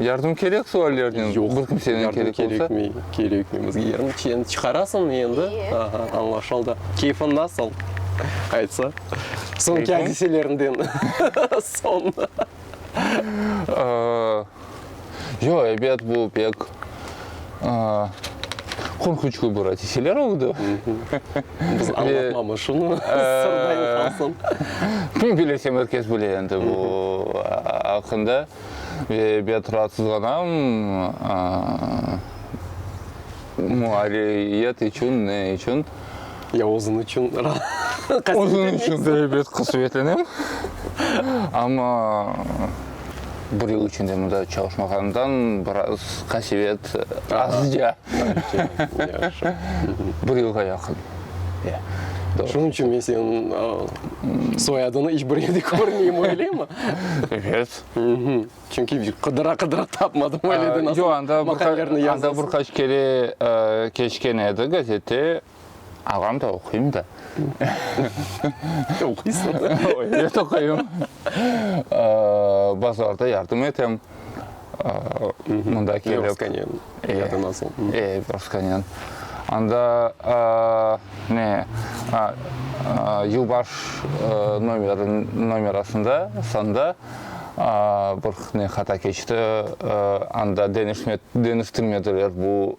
Yardım kerek suallerden? Yoq, bir kimseden yardım kerek olsa? kerekmey, kerekmey bizge yardım. Çen çıqarasıñ endi, Eee. aha, añlaşıldı. Keyfiñ nasıl? Aytsa. Soñki Keyfim? adiseleriñden soñ. Aa, yoq, ebet bu pek, aa, qorquçlı bir adiseler oldı. Biz añlatmamız şunı, sırda qalsın. Kim bilirse, merkez bile endi bu aqqında. ve ebet raatsızlanam, muarririyet içün, ne içün? Ya özün içün qasetleneñ? Özün içün de ebet qasetleneñ, amma bir yıl içinde mında çalışmağanımdan biraz qasevet azca. Bir yılğa yaqın. Şunıñ içün men seniñ soyadını iç bir yerde körmeyim, öyleymi? Evet. Çünki qıdıra-qıdıra tapmadım, öyle de nasıl maqalelerini yazasıñ. Anda bir qaç kere keçken edi gazette. Ağam da oquyım da. Oquysıñ da. Evet, oquyım. Bazarda yardım etem. Mında kelip. Levoskanyan ya da nasıl? E, Levoskanyan. Anda ne, yılbaş nomerasında, sanda bir ne hata keçti, anda deñiştirmediler bu.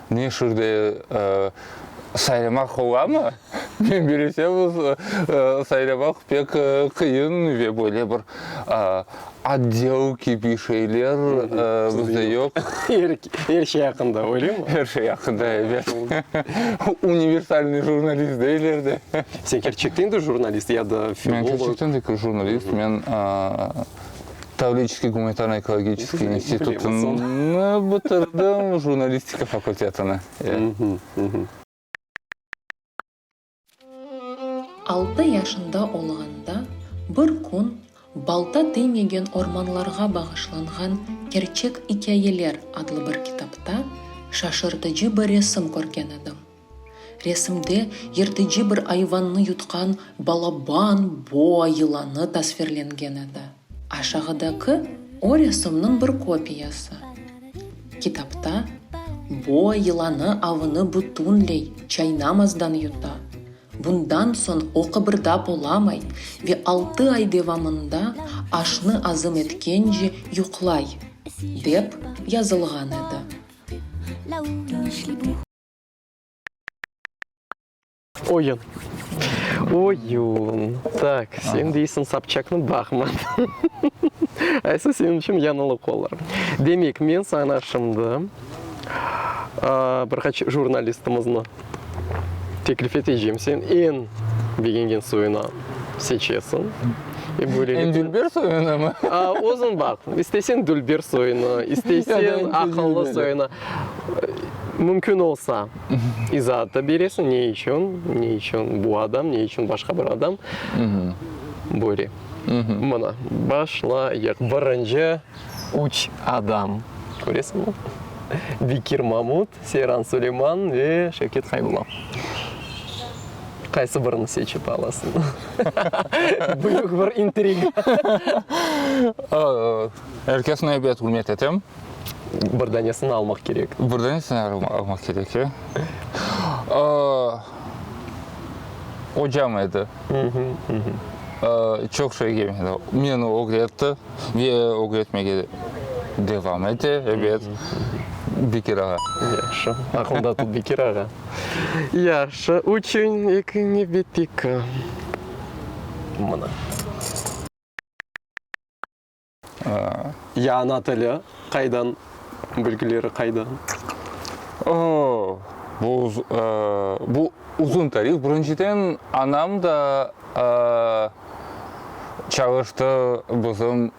Men şurda saylamaq olamı? Men bileseniz, saylamaq pek qıyın ve böyle bir otdel kibi şeyler bizde yoq. Er şey aqqında, öyle mi? Er şey aqqında, evet. Universalnıy jurnalist deyler de. Sen kerçekten de jurnalist ya da filolog? Men kerçekten de jurnalist. Men. Tavlidskiy gumanitarno-ekologiçeskiy institutını bitirdim, jurnalistika fakultetini, ya. Altı yaşında olğanda bir kün Balta deymegen ormanlarğa bağışlanğan kerçek ikâyeler adlı bir kitapta şaşırtıcı bir resim körgen edim. Resimde yırtıcı bir ayvannı yutqan balaban boa yılanı tasvirlengen edi. Aşağıdaki o resimniñ bir kopiyası. Kitapta boa yılanı avını bütünley çaynamazdan yuta, bundan soñ o qıbırdap olamay ve altı ay devamında aşnı azım etkence yuqlay, dep yazılğan edi. Oyun. Oyun. Tak, sen deysiñ Sobçaknı baqman. Aysa senin içün yañılıq olar. Demek, men saña şimdi bir qaç jurnalistimizni teklif eteceğim. Sen eñ begengen soyunı seçesiñ. Eñ dülber soyunımı? Özüñ baq. İsteseñ dülber soyunı, isteseñ aqıllı soyunı. Mümkün olsa, izaat da beresiñ, ne içün, ne içün bu adam, ne içün başqa bir adam böyle. Mına, başlayıq. Birinci, üç adam. Köresiñmi? Bekir Mamut, Seyran Suleyman ve Şevket Haybulla. Qaysı birini seçip alasıñ? Büyük bir intriga. Er kesni ebet ürmet etem. Bir danesini almaq kerek. Bir danesini almaq kerek, ya. Ocam edi. Çoq şey ögrenmedi. Meni ögretti ve ögretmege devam ete, ebet. Bekir ağa. Yahşı. Aqlında tut, Bekir ağa. Yahşı. Üçüñ ekiñni bitti ki. Mına. Ya ana tili qaydan, bilgileri qaydan? Bu bu uzun tarih. Birinciden, anam da çalıştı bizim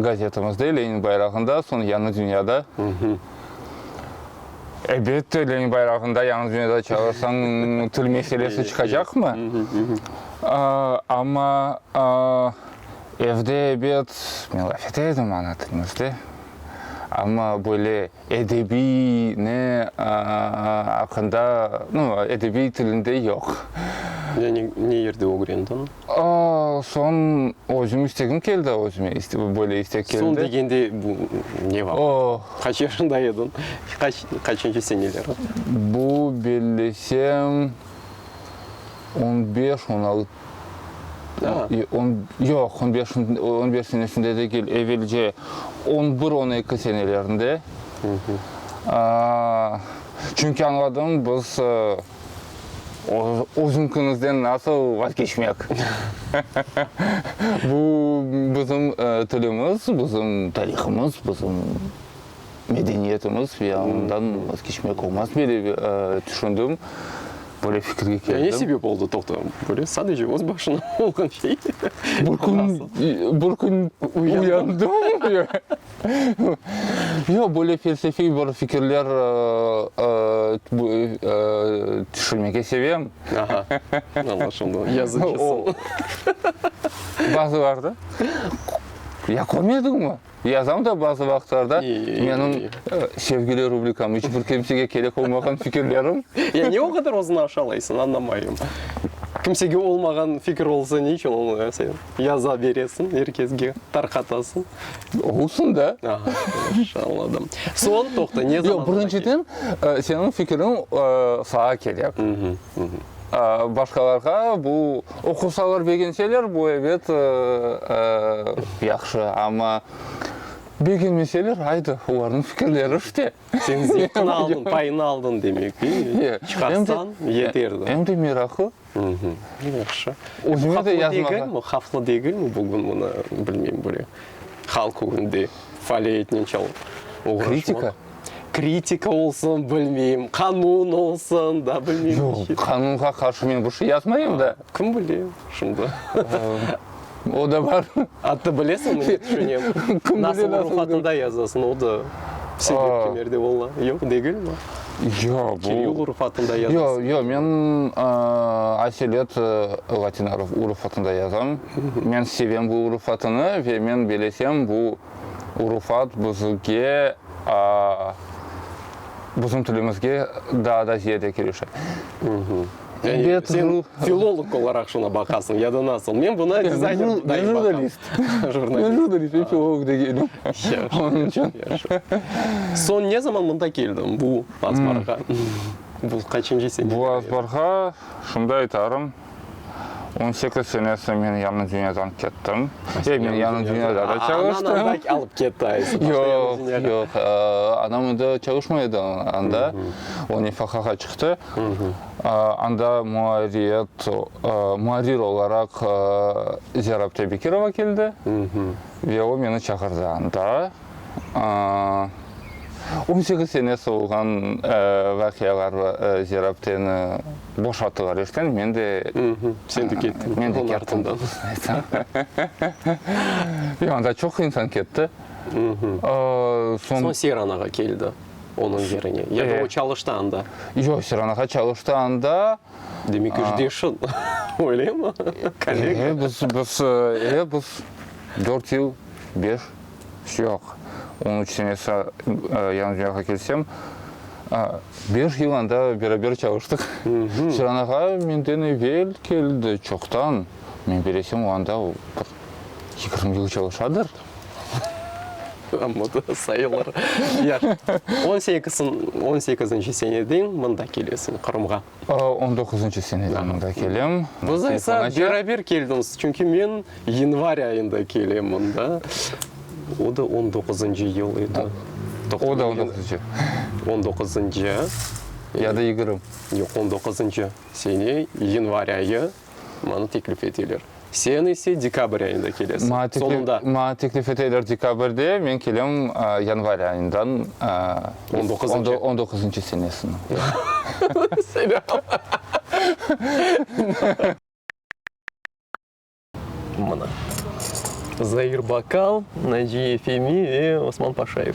gazetimizde, Lenin bayrağında, soñ Yañı dünyada. Elbette, Lenin bayrağında, Yañı dünyada çalışsañ, til meselesi çıqacaqmı? Amma Evde ebet melafet edim ana tilimizde, amma böyle edebiy ne aqqında, nu, edebiy tilinde yoq. Yani ne yerde ögrendiñ? Soñ özüm istegim keldi, özüme böyle istek keldi. Soñ degende bu ne vaqıt? O. Qaç yaşında ediñ? Qaç, qaçıncı seneler? Bu bellesem, on beş, on altı. Yoq, on beş, on beş senesinde degil, evelce on bir, on eki senelerinde. Çünki añladım, biz özüñkiñizden nasıl vazgeçmek? Bu bizim tilimiz, bizim tarihımız, bizim. medeniyetimiz ve ondan vazgeçmek olmaz diye de tüşündim, böyle fikirge keldim. Yani ne sebep oldı, toqta, böyle sadece öz başına olğan şey? Bir kün, bir kün uyandım. Yoq, böyle felsefiy bir fikirler tüşürmege sevem. Aha, anlaşıldı, yazıcısın. Bazılarda, ya körmediñmi? Yazam da bazı vaqıtlarda menim sevgili rubrikam, iç bir kimsege kerek olmağan fikirlerim. Ya ne o qadar özüni aşalaysıñ, añlamayım. Kimsege olmağan fikir olsa, ne içün onı sen yaza beresiñ, er kesge tarqatasıñ? Olsun da. Aha, yaxşı, añladım. Soñ, toqta, ne zaman? Yoq, birinciden, seniñ fikiriñ saña kerek. Başqalarğa bu, oqusalar begenseler, bu ebet yahşı, amma begenmeseler, aydı, olarnıñ fikirleri işte. Sen zevqini aldın, payını aldın demek, deymi? Çıqarsañ, yeterdi. Em de meraqlı. Yahşı. Özüme de yazmağa. Havflı degilmi bugün bunı, bilmeyim, böyle halq ögünde faaliyetnen çalıp oğraşmaq? Kritika? kritika olsun, bilmeyim, qanun olsun, da, bilmeyim. Yoq, qanunğa qarşı men bir şey yazmayım da. Kim bile şimdi? O da bar. Attı bilesiñmi, ne tüşünem? Nasıl ruh altında yazasıñ, o da sebep kimerde ola, yoq degilmi? Yoq, bu. Kiril urf altında yazasıñ. Yoq, yoq, men aselet latin urf altında yazam. Men sevem bu urf altını ve men bilesem, bu. urufat buzuvge, bizim tilimizge daa da ziyade kirişe. Yani sen filolog olaraq şuna baqasıñ ya da nasıl? Men buna dizayner dayı baqam. Men jurnalist. Jurnalist. Men jurnalist, men filolog deyilim. Yaşı, yaşı, yaşı. Soñ ne zaman mında keldiñ, bu azbarğa? Bu qaçıncı sene? Bu azbarğa, şunday aytarım. On sekiz senesi men yañı dünyadan kettim. Ey, men yañı dünyada da çalıştım. Anañ anda alıp ketti ayısın. Yoq, yoq, anam indi çalışmay edi anda, o nefaqağa çıqtı. Anda muarriyet, muarrir olaraq Ziyarabte Bekirova keldi ve o meni çağırdı anda. On sekiz sene solğan vaqialar bar, zerabdeni boşattılar eşten, men de, Sen de kettiñ, men de kettim, doğrusını aytsam. Yoq, anda çoq insan ketti. Soñ Seyran ağa keldi onıñ yerine, ya da o çalıştı anda? Yoq, Seyran ağa çalıştı anda. Demek, işdeşin, öylemi? Kollega? Biz, biz, biz dört yıl, beş. Yoq, onıñ içün esa, yalnız men akelsem, beş yıl anda beraber çalıştıq. Ciran ağa menden evel keldi, çoqtan. Men bilesem, o anda bir yigirmi yıl çalışadır. Amma da sayılır. On sekizinci seneden mında kelesiñ, Qırımğa. On doquzıncı seneden mında kelem. Biz ise beraber keldimiz, çünki men yanvar ayında kelem mında. O da on doquzıncı yıl edi. O da on doquzıncı. On doquzıncı. Ya da yigirmi. Yoq, on doquzıncı sene, yanvar ayı. Maña teklif eteler. Sen ise dekabr ayında kelesiñ. Sonunda. Maña teklif eteler dekabrde, men kelem yanvar ayından. On doquzıncı. On doquzıncı senesiniñ. Selâm. Mına. Zair Bakal, Naciye Femi ve Osman Paşayev.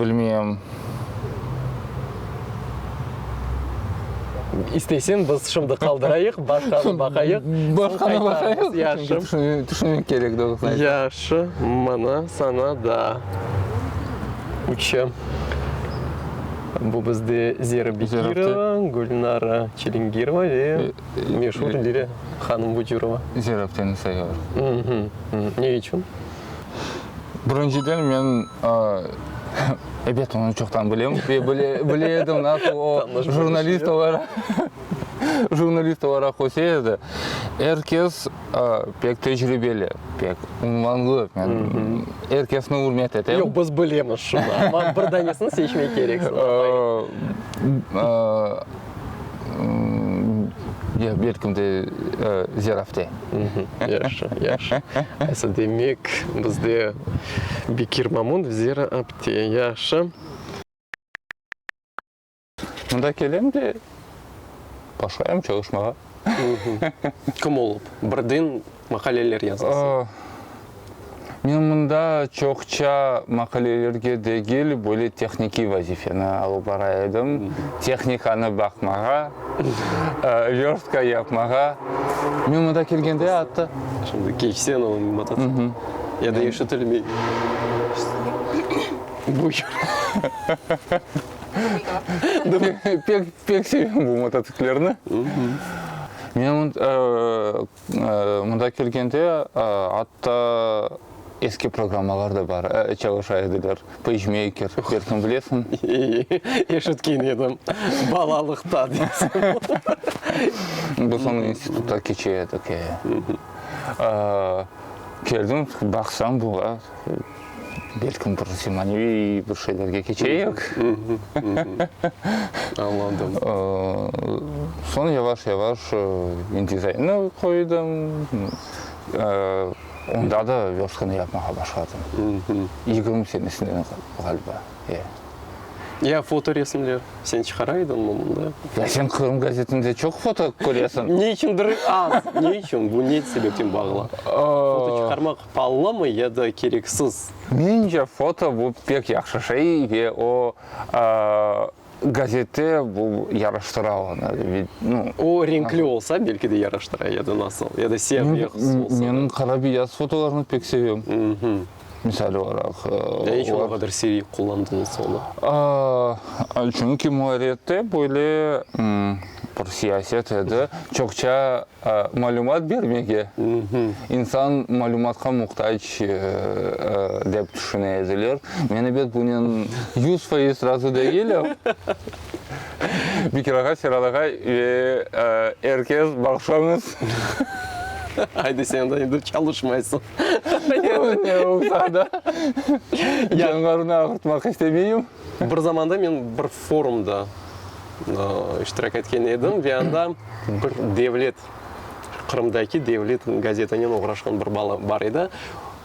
Bilmeyem. İsteysen, biz şimdi qaldırayıq, başqanı baqayıq. Başqanı baqayıq? Yaxşı. Tüşünmek kerek, doğrusı aytqanda. Yaxşı, mına saña da üçü. Bu bizde Zera Bekirova, Gülnara Çilingirova ve. Meşur lire hanım Vucurova. Ziyrakteni sayar. Ne içün? Birinciden men ebet onı çoqtan bilem ve bile edim nasıl o jurnalist olaraq jurnalist olaraq köse edi. Er kes pek tecribeli, pek unvanlı, er kesni ürmet etem. Yoq, biz bilemiz şunı, amma bir danesini seçmek kerek. Ya belkim de zerafte. Yahşı, yahşı. Asıl demek bizde Bekir Mamont, zerafte. Yahşı. Mında kelem de başlayam çalışmağa. Kim olıp? Birden maqaleler yazasıñ? Men mında çoqça maqalelerge degil, böyle tehnikiy vazifeni alıp bara edim, tehnikanı baqmağa, vörtka yapmağa. Men mında kelgende atı. Şimdi keçsen o mototsikl ya da eşitilmey. Pek sevem bu mototsiklerni. Men Mında kelgende, atta eski programmalar da bar, çalışa ediler, PageMaker, belkim bilesiñ. Eşitken edim, balalıqta deysiñ. Biz onı institutta keçe edik, e. Keldim, baqsam, bula. Belkim bir zemaneviy bir şeylerge keçeyik. Añladım. Soñ yavaş-yavaş InDesign-nı qoydım. Onda da verstkanı yapmağa başladım. Yigirmi senesinde ğaliba. Ya fotoresimler, sen çıqara ediñ bunları? Ya sen Qırım gazetinde çoq foto köresiñ. Ne içündir az, ne içün, bu ne sebepten bağlı? Foto çıqarmaq Pallımı ya da kereksiz? Mence foto bu pek yahşı şey ve o gazete bu yaraştıra onı. O renkli olsa belki de yaraştıra ya da nasıl? Ya da siyah beyaz olsa da. Men qara beyaz fotolarnı pek sevem. Misal olaraq. Ne içün o qadar sirik qullandıñız onı? Çünki muarrihte böyle bir siyaset edi. Çoqça Malümat bermege, insan malümatqa muhtac dep tüşüne ediler. Men ebet bunen yüz faiz razı degilim. Bekir ağa, Serhat ağa ve er kes bağışlañız. Haydi sen de endi çalışmaysıñ. Yoq, ne olsa da canlarını ağırtmaq istemeyim. Bir zamanda men bir forumda iştirak etken edim ve anda bir devlet, Qırımdaki devlet gazetanen oğraşqan bir bala bar edi.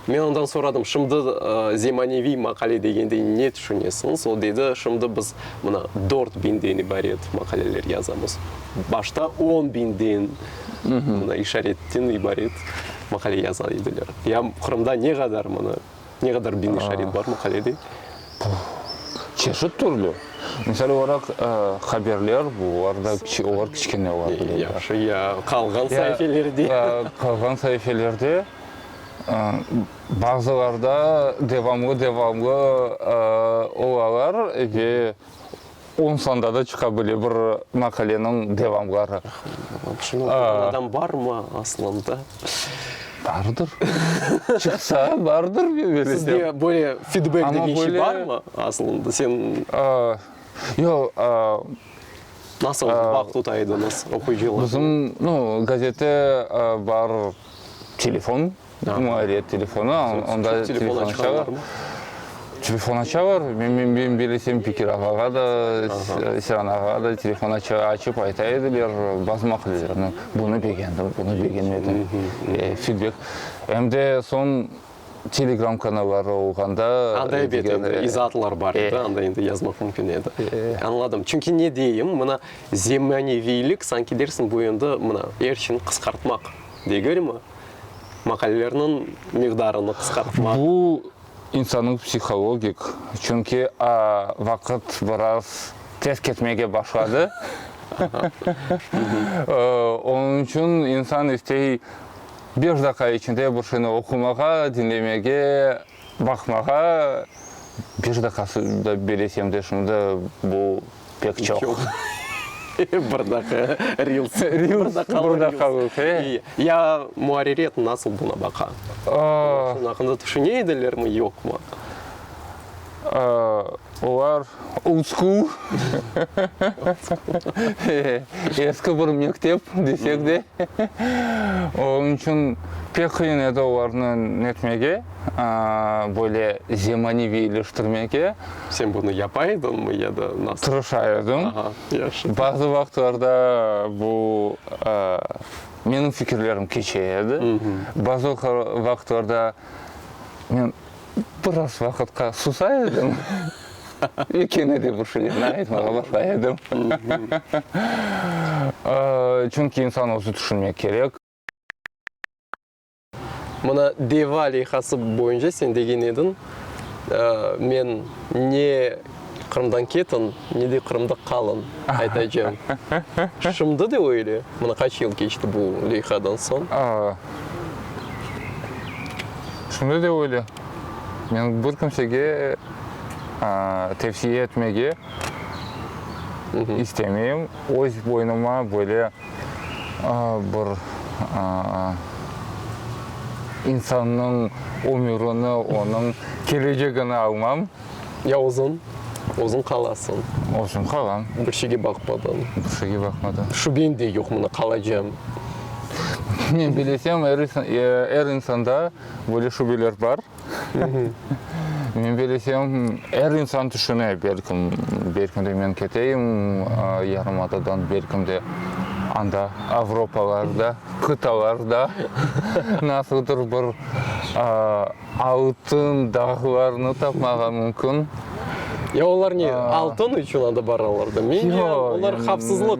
Men ondan soradım, şimdi zemaneviy maqale degende ne tüşünesiñiz? O dedi, şimdi biz mına dört biñden ibaret maqaleler yazamız. Başta on biñden, mına işaretten ibaret maqale yaza ediler. Ya Qırımda ne qadar mına. Ne qadar diniy şarit bar maqalede? Çeşit türlü. Misal olaraq, haberler, olarda olar kiçkene ola bile. Yahşı, ya qalğan saifelerde? Qalğan saifelerde, bazılarda devamlı-devamlı olalar ve On sanda da çıqa bile bir maqaleniñ devamları. Şunı oquğan adam barmı aslında? Bardır. Çıqsa, bardır dep bilesem. Sizge böyle fidbek degen şey barmı aslında? Sen... Yoq. Nasıl bağ tuta ediñiz oquyıcılarnıñ? Bizim, no, gazete bar, telefon Dedim, ayriyet telefona, onda telefon aça var mı? Telefon aça var, men bilesem Bekir ağağa da, Seren ağağa da telefon açıp ayta ediler, bazı maqulelerini. Bunı begendim, bunı begenmedim, fidbek. Em de soñ telegram kanalları olğanda. Anda elbet izaatlar bar edi, anda endi yazmaq mümkün edi. Añladım. Çünki ne deyim, mına zemaneviylik, sanki dersiñ, bu endi mına er şeyni qısqartmaq degelmi? maqalelerniñ miqdarını qısqartmaq. Bu insannıñ psihologik, çünki vaqıt biraz tez ketmege başladı, onıñ içün insan istey beş daqiqa içinde bir şeyni oqumağa, diñlemege. Baqmağa bir daqası da beresem de şunda bu pek çoq. Bir daqa reels. Reels, bir daqalıq, he. Ya muarriret nasıl buna baqa? Şunun aqqında tüşüne edilermi, yoqmı? Olar old-school, eski bir mektep desek de, oñın içün pek qıyın edi olarnı netmege, böyle zemaneviyleştirmege. Sen bunı yapa ediñmi ya da nasıl? Tırışa edim. Aha, yaşı. Bazı vaqıtlarda bu menim fikirlerim keçe edi, bazı vaqıtlarda men. Biraz vaqıtqa susa edim ve kene de bir şeylerni aytmağa başlay edim. Çünki insan özü tüşünmek kerek. Mına deva leyhası boyunca sen degen ediñ, men ne Qırımdan ketiñ, ne de Qırımda qalın, aytacam. Şimdi de öyle. Mına qaç yıl keçti bu leyhadan soñ? Şimdi de öyle. Men bir kimsege tevsiye etmege istemeyim. Öz boynuma böyle bir insannıñ ömürini, onıñ kelecegini almam. Ya özün, özün qalasıñ. Özün qalam. Bir şeyge baqmadan. Bir şeyge baqmadan. Şübem de yoq, mına qalacam. Men bilesem, er insanda böyle şübeler bar. Men bilesem, er insan tüşüne, belkim, belkim de men keteyim yarımadadan, belkim de anda Avropalarda, qıtalarda nasıldır bir Altın dağlarnı tapmağa mümkün. Ya olar ne, altın içün anda baralar da? Men ya olar havfsızlıq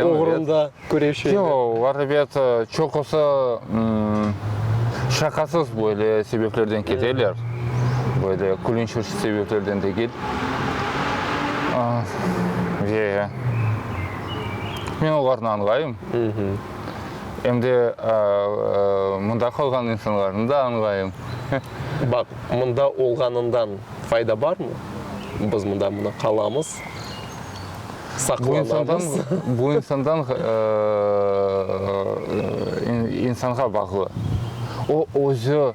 oğrunda küreşeler? Yoq, olar, ebet, çoqusı şaqasız böyle sebeplerden keteler, böyle külünç sebeplerden degil. Ve men olarnı añlayım. Em de mındaki olğan insanlarnı da añlayım. Baq, mında olğanından fayda barmı? Biz mında mına qalamız, saqlanamız. Bu insandan, insanğa bağlı. O özü.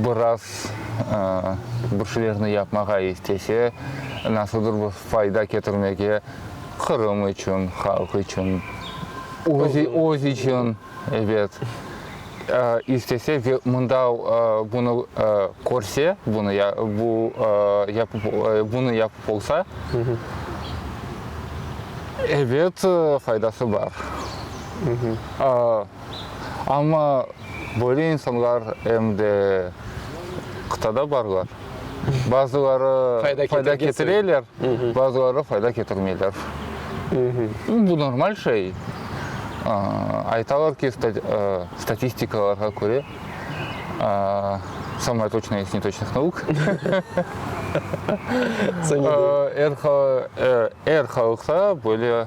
Biraz bir şeylerni yapmağa istese, nasıldır bir fayda ketirmege, Qırım içün, halq içün, öz içün, ebet, istese ve mında bunı körse, bunı yapıp olsa, ebet, faydası bar. Amma böyle insanlar em de qıtada barlar. Bazıları fayda ketireler, bazıları fayda ketirmeyler. Bu normal şey. Aytalar ki, statistikalarğa köre, samaya toçnaya iz netoçnih nauk, er halıqta böyle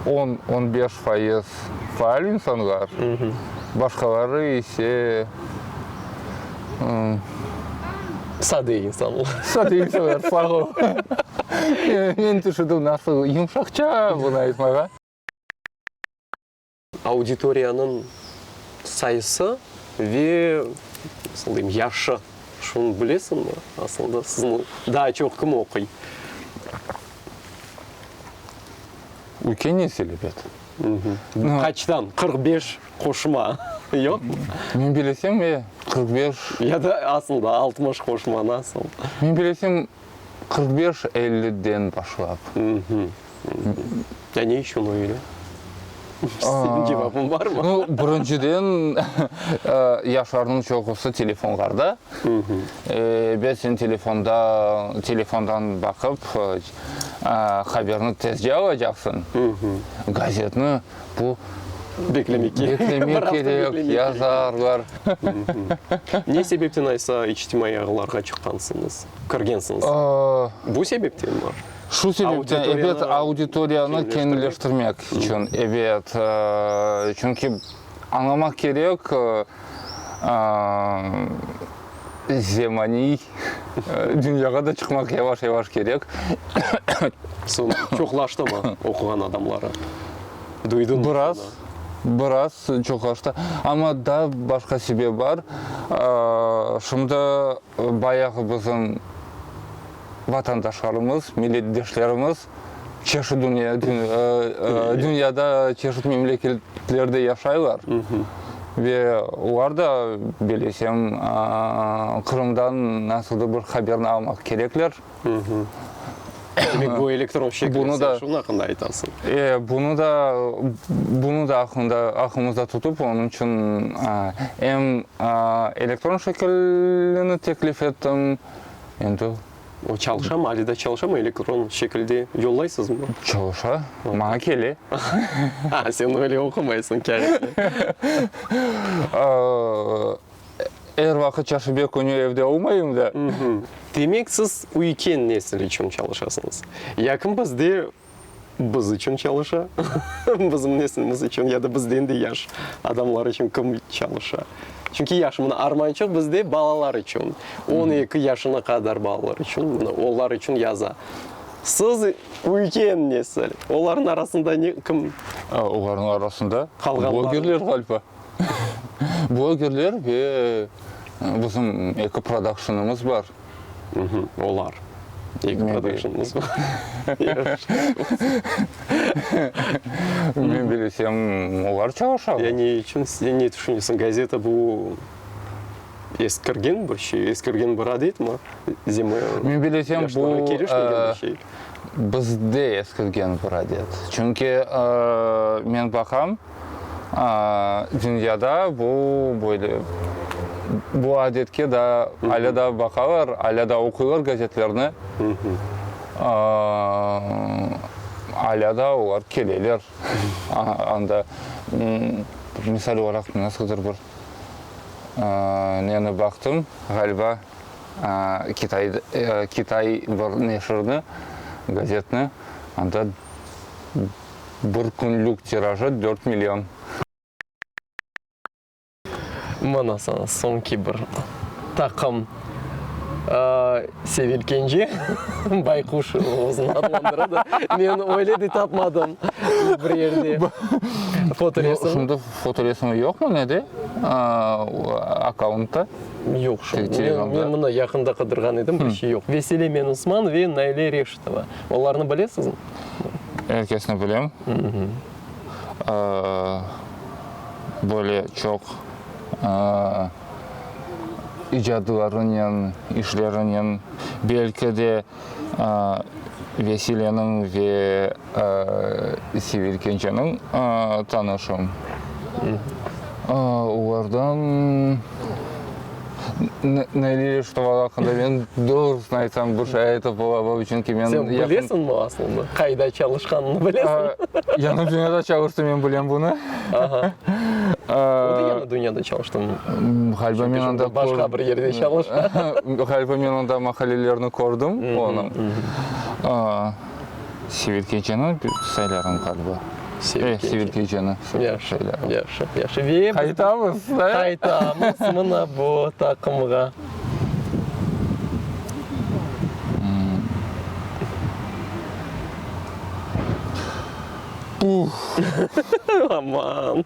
on, on beş fayız faal insanlar, başqaları ise, Sade insanlar. sade insanlar, sağ ol. Men tüşüdüm, nasıl yumşaqça bunı aytmağa. Auditoriyanıñ sayısı ve, nasıl deyim, yaşı, şunı bilesiñmi? Asılda sizni daa çoq kim oquy? Ülke nesil, ebet. Qaçtan? Qırq beş qoşma yoqmı? Men bilesem, e, qırq beş. Ya da asılda altmış qoşma, nasıl? Men bilesem, Qırq beş, elliden başlap. Uhmm. Ya ne içün öyle? Senin cevabın barmı? No, birinciden, yaşlarnıñ çoqusı telefonlarda. Ve sen telefonda, telefondan baqıp, haberni tezce alacaqsıñ, gazetni. bu Beklemek kerek. Beklemek kerek, yazarlar. Ne sebepten aysa içtimaiy ağlarğa çıqqansıñız, kirgensiñiz? Bu sebeptenmi? Şu sebepten, ebet, auditoriyanı kenileştirmek içün, ebet. Çünki añlamaq kerek, zemaniy dünyağa da çıqmaq yavaş-yavaş kerek. Soñ çoqlaştımı oquğan adamları? Duydıñmı soña? Biraz, biraz çoqlaştı. Amma da başqa sebep bar. Şimdi bayağı bizim vatandaşlarımız, milletdeşlerimiz çeşit dünya, dünyada çeşit memleketlerde yaşaylar ve olar da bilesem Qırımdan nasıldır bir haberni almaq kerekler. Demek bu elektron şekilde sen şunun aqqında aytasıñ. E, bunı da, bunı da aqqında, aqqımızda tutıp, onıñ içün em elektron şekilini teklif ettim, endi. O çalışamı, ali da çalışamı, elektron şekilde yollaysızmı? Çalışa, maña kele. Aa, sen öyle oqumaysıñ kâğıtnı. Er vaqıt çarşenbe künü evde olmayım da. Demek, siz üyken nesil içün çalışasıñız. Yaqın bizde Biz içün çalışa, bizim neslimiz içün ya da bizden de yaş adamlar içün kim çalışa? Çünki yaş, mına, armançıq bizde balalar içün, on eki yaşına qadar balalar içün, mına, olar içün yaza. Siz ülken nesil, olarnıñ arasında ne, kim? Olarnıñ arasında blogerler, ğaliba. Blogerler ve bizim eki prodakşınımız bar. Olar. Eki productionımız bar. Men bilsem, olar çalışalar. Ya ne içün, sen ne tüşünesiñ? Gazeta bu, eskirgen bir şey, eskirgen bir adet mi? Zima, yaşlarğa keliş degen bir şey. Men bilsem, bu, bizde eskirgen bir adet. Çünki, men baqam. Dünyada bu böyle, bu adetke daa alâ daa baqalar, alâ daa oquylar gazetlerni, alâ daa olar keleler anda. Misal olaraq, nasıldır bir neni baqtım, ğaliba kitay, kitay bir neşirni, gazetni, anda. Bir künlük tirajı dört million. Mana saña soñki bir taqım sevilkence bayquş özüni adlandıra da, men öyle de tapmadım bir yerde fotoresim. Şimdi fotoresimi yoqmı nede akkauntta? Yoq, şu men mına yaqında qıdırğan edim, bir şey yoq. Vesile Menusman ve Naile Reşitova, olarnı bilesizmi? er kesni bilem, böyle çoq icadlarınen, işlerinen, belki de Vesileniñ ve Sevil Kenceniñ tanışım. Olardan. Nailiye Reşitova aqqında men doğrusını aytsam, bir şey aytıp olamam, çünki men yaqın. Sen bilesiñmi aslında, qayda çalışqanını bilesiñmi? Yañı Dünyada çalıştı, men bilem bunı. Aha. O da Yañı Dünyada çalıştı mı? Ğaliba men onda. Başqa bir yerde çalıştı. Ğaliba men onda maqalelerni kördim onıñ. Sibir keçeni saylarım qalba. Sibir keçeni saylarım. Yahşı, yahşı. Ve biz qaytamız, qaytamız mına bu taqımğa. Aman!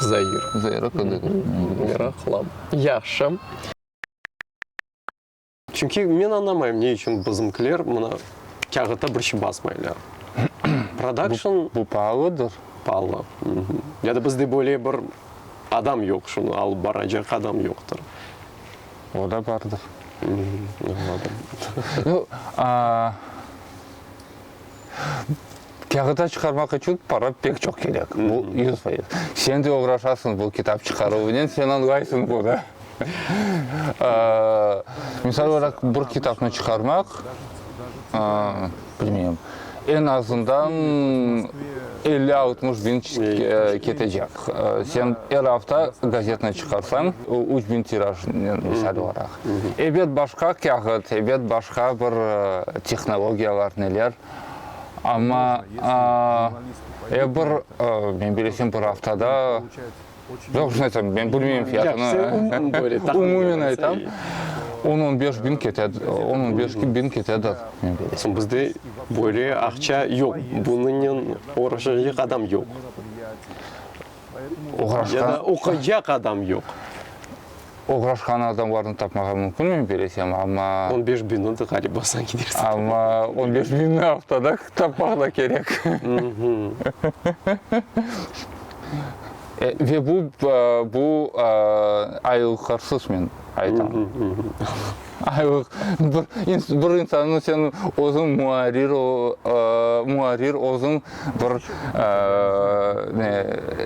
Zair. Zair aqqında da meraqlı. Yahşı. Çünki men añlamayım, ne içün bizimkiler mına kâğıtta bir şey basmaylar. Production. Bu, bu paalıdır. Paalı. Ya da bizde böyle bir adam yoq, şunı alıp baracaq adam yoqtır. O da bardır. Anladım. Nu, aa, Kâğıta çıqarmaq içün para pek çoq kerek, bu yüz fayız. Sen de oğraşasıñ bu kitap çıqaruvınen, sen añlaysıñ bunı. Misal olaraq, bir kitapnı çıqarmaq, bilmeyim, eñ azından elli-altmış biñ ketecek. Sen er afta gazetnı çıqarsañ, üç biñ tirajnen, misal olaraq. Ebet başqa kâğıt, ebet başqa bir tehnologiyalar, neler. Amma ya bir, men bilesem, bir aftada, yoq, şunday aytam, men bilmeyim fiyatını, umumen aytam, on, on beş biñ kete, on, on beş biñ ketedir, men bilesem. Bizde böyle aqça yoq, bunıñnen uğraşacaq adam yoq. Ya da oquycaq adam yoq. Oğraşqan adamlarnı tapmağa mümkünmi, bilesem, amma. On beş biñni de ğaliba sen gidersiñ. Amma on beş biñni aftada tapmaq da kerek. Ve bu, bu aylıqarsız men aytam. Ayıq, bir insannı sen özüñ muarrir, muarrir özüñ bir ne,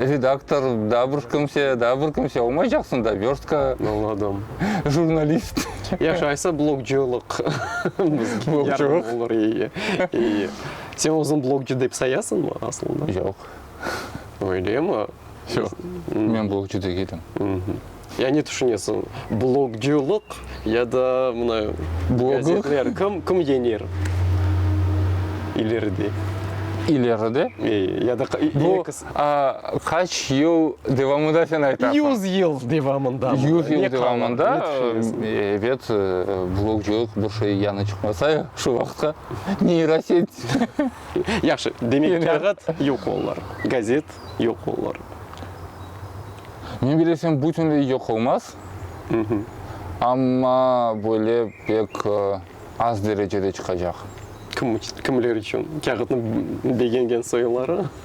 redaktor, daa bir kimse, daa bir kimse olmaycaqsıñ da, vörstka. Añladım. Jurnalist. Yahşı, aysa blogcılıq. Blogcılıq. Sen özüñ blogcı dep sayasıñmı aslında? Yoq. Öylemi? Yoq, men blogcu degilim. Ya ne tüşünesiñ, blogcülıq ya da mına gazetler, kim, kim yeñer ileride? İleride? E, ya da Bu qaç yıl devamında sen aytasıñ? Yüz yıl devamında. Yüz yıl devamında, ebet, blogcülıq bir şey yañı çıqmasa şu vaqıtqa, neyroset. Yahşı, demek kâğıt yoq olur, gazet yoq olur. Men bilesem bütünley yoq olmaz, amma böyle pek az derecede çıqacaq. Kimler içün? Kâğıtnıñ begengen soyları?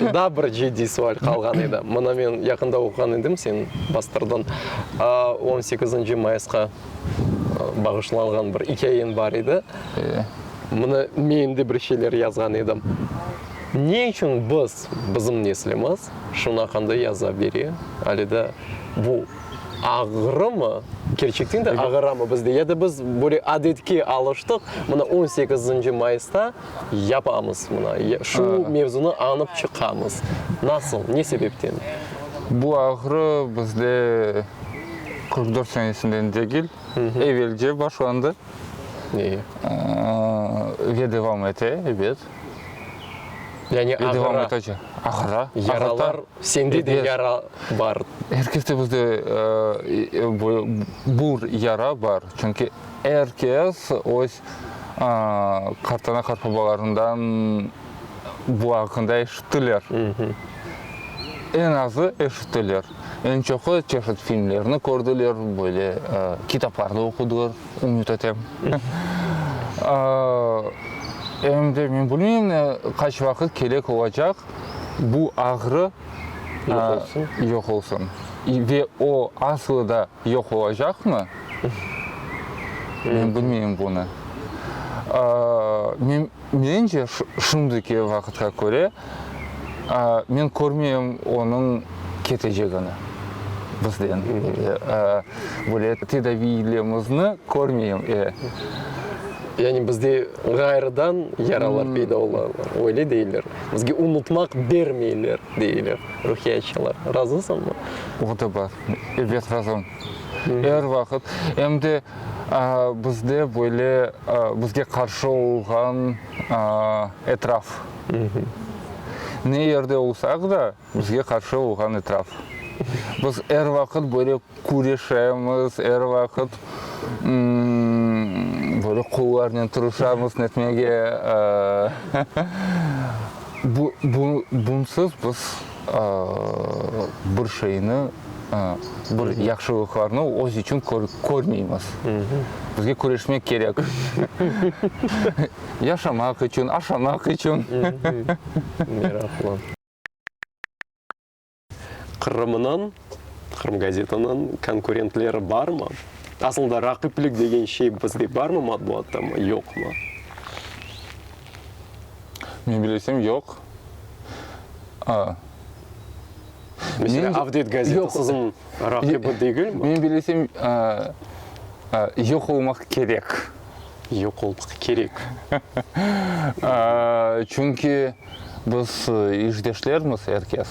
Şunda bir ciddiy sual qalğan edi. Mına men yaqında oquğan edim, sen bastırdıñ. On sekizinci mayısqa bağışlanğan bir ikâyeñ bar edi. Mına men de bir şeyler yazğan edim. Ne içün biz, bizim neslimiz şunıñ aqqında yaza bere, ale de bu ağırmı, kerçekten de ağıramı bizde, ya da biz böyle adetke alıştıq, mına on sekizinci mayısda, Yapamız mına, şu mevzunı añıp çıqamız. Nasıl, ne sebepten? Bu ağrı bizde qırq dört senesinden degil, evelce başlandı ve devam ete, ebet. Yani ağıra, yaralar, sende de yara bar. Er keste bizde bir yara bar, çünki. Er kes öz qartana-qartbabalarından bu aqqında eşittiler. Eñ azı eşittiler. Eñ çoqu çeşit filmlerni kördiler, böyle kitaplarnı oqudılar, ümüt etem. Em de men bilmeyim, qaç vaqıt kerek olacaq bu ağrı yoq olsun. Ve o, aslı da, yoq olacaqmı? Men bilmeyim bunı. Men, mence, şimdiki vaqıtqa köre, men körmeyim onıñ ketecegini bizden. Böyle tedaviylerimizni körmeyim. Yani bizde ğayrıdan yaralar peyda ola, öyle deyler. Bizge unutmaq bermeyler. deyler ruhiyatçılar. Razısıñmı? O da bar. Ebet, razım. Er vaqıt. Em de bizde böyle bizge qarşı olğan etraf. Ne yerde olsaq da, bizge qarşı olğan etraf. Biz er vaqıt böyle Küreşemiz er vaqıt, böyle qollarnen tırışamız netmege. Bunsız biz bir şeyni, bir yahşılıqlarnı öz içün körmeymiz. Bizge küreşmek kerek. Yaşamaq içün, aşamaq içün. Meraqlı. Qırımnıñ, Qırım gazetanıñ konkurentleri barmı? Asılda raqiplik degen şey bizde barmı matbuattamı, yoqmı? Men bilesem, yoq. Mesela, Avdet gazeta siziñ raqibi degilmi? Men bilesem, yoq olmaq kerek. yoq olmaq kerek. Çünki biz işdeşlermiz, er kes.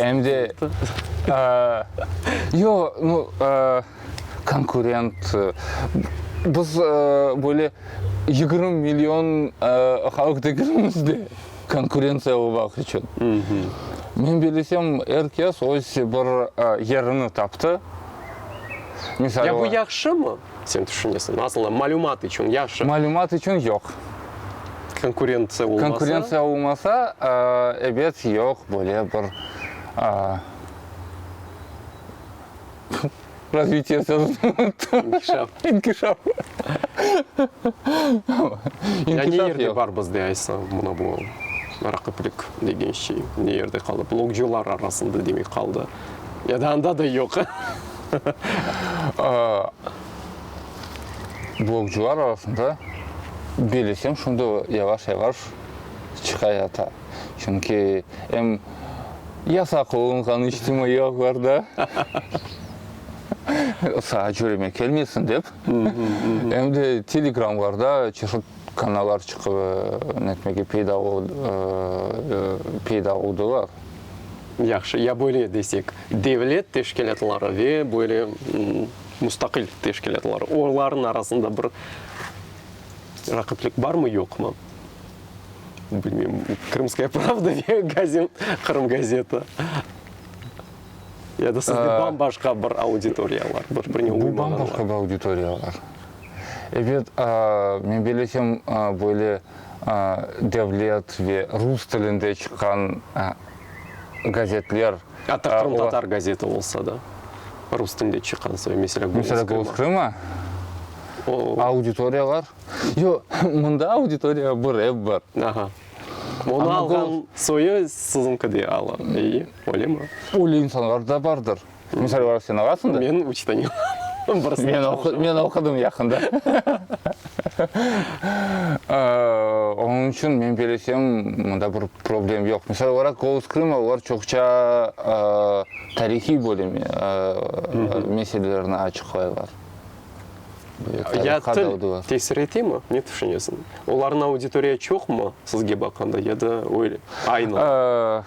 Em de, yoq, nu, konkurent. Biz böyle yigirmi million halıq degenimiz de konkurentsiya olmaq içün. Men bilesem, er kes öz bir yerini taptı. Ya bu yahşımı? Sen tüşünesiñ, asılda malümat içün yahşı. Malümat içün yoq. Konkurentsiya olmasa? Konkurentsiya olmasa, ebet, yoq, böyle bir razvitiye sözüni unuttum. İnkişaf. İnkişaf. Ne yerde bar bizde aytsam, mına bu raqiplik degen şey? Ne yerde qaldı? Blogcılar arasında demek qaldı. Ya da anda da yoq. Blogcular arasında belesem şunda yavaş-yavaş çıqayata. Çünki em yasaq olunğan içtimaiy ağlarda sağa cüreme kelmesin dep, em de telegramlarda çeşit kanallar çıqıp netmege peyda oldılar. Yahşı, ya böyle desek, devlet teşkilâtları ve böyle mustaqil teşkilâtları, olarnıñ arasında bir raqiplik barmı, yoqmı? Bilmeyim, Krımskaya pravda ve gazin, Qırım gazeta ya da sizde bam-başqa bir auditoriyalar, bir-birine uymayanlar? Bu bam-başqa bir auditoriyalar. Ebet, men bilesem, böyle devlet ve rus tilinde çıqqan gazetler. Atta qırımtatar gazeti olsa da, rus tilinde çıqqan soy, meselâ, Golos Krıma. Meselâ, Golos Krıma, auditoriyalar, yoq, mında auditoriya bir, ep bir. Aha. Onı alğan soyu siziñki de, ey, öyle mi? Öyle insanlar da bardır. Misal olaraq sen olasıñ da. Men üç dane olam. Birisinde çalışam. Men oqudım yaqında. Onıñ içün men belesem, mında bir problem yoq. Misal olaraq, Golos Krıma olar çoqça tarihiy bölüm meselelerni açıqlaylar. Ya til tesir etemi? Ne tüşünesiñ? Olarnıñ auditoriya çoqmı, sizge baqanda, ya da öyle, aynı?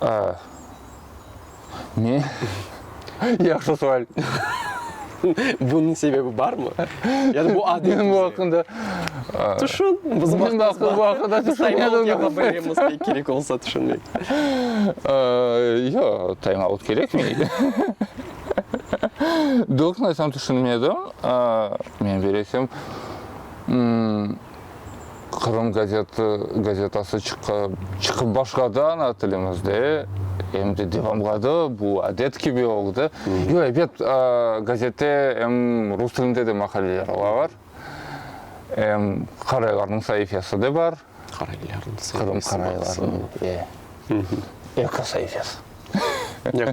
A. Ne? Yahşı sual. Bunıñ sebebi barmı? Yani bu adet. Men bu aqqında. Tüşün. Biz bu aqqında tüşünmedim. Kerek olsa tüşünmek. Yoq, taymaut kerekmey. Doğrusını aytsam, tüşünmedim. Men, belesem, Qırım gazeti, gazetası çıqıp başladı ana tilimizde, em de devamladı, bu adet kibi oldı. Yoq, ebet, gazette em rus tilinde de maqaleler olar, em qaraylarnıñ saifesi de bar. Qaraylarnıñ saifesi. Qırım qaraylarınıñ, e, ekosayifesi.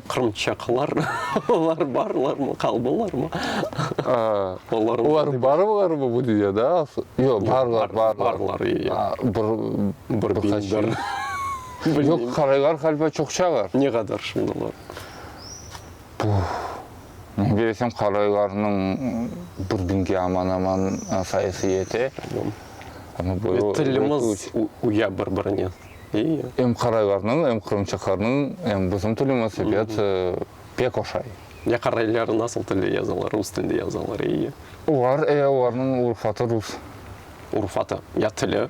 Qırımtatarlar olar barlarmı, qaldılarmı? Olar barlarmı bu dünyada? Yoq, barlar, barlar. Bir qaçı. Yoq, qaraylar qalba çoqçalar. Ne qadar şimdi olar? Men bilesem, qaraylarnıñ bir biñge aman-aman sayısı yete. Amma böyle. Tilimiz uya bir-birine. Em qaraylarnıñ, em qırımtatarnıñ, em bizim tilimiz ebet pek oşay. Ya qaraylar nasıl tilde yazalar, rus tilde yazalar, eyi? Olar, e, olarnıñ urfatı rus. Urfatı, ya tili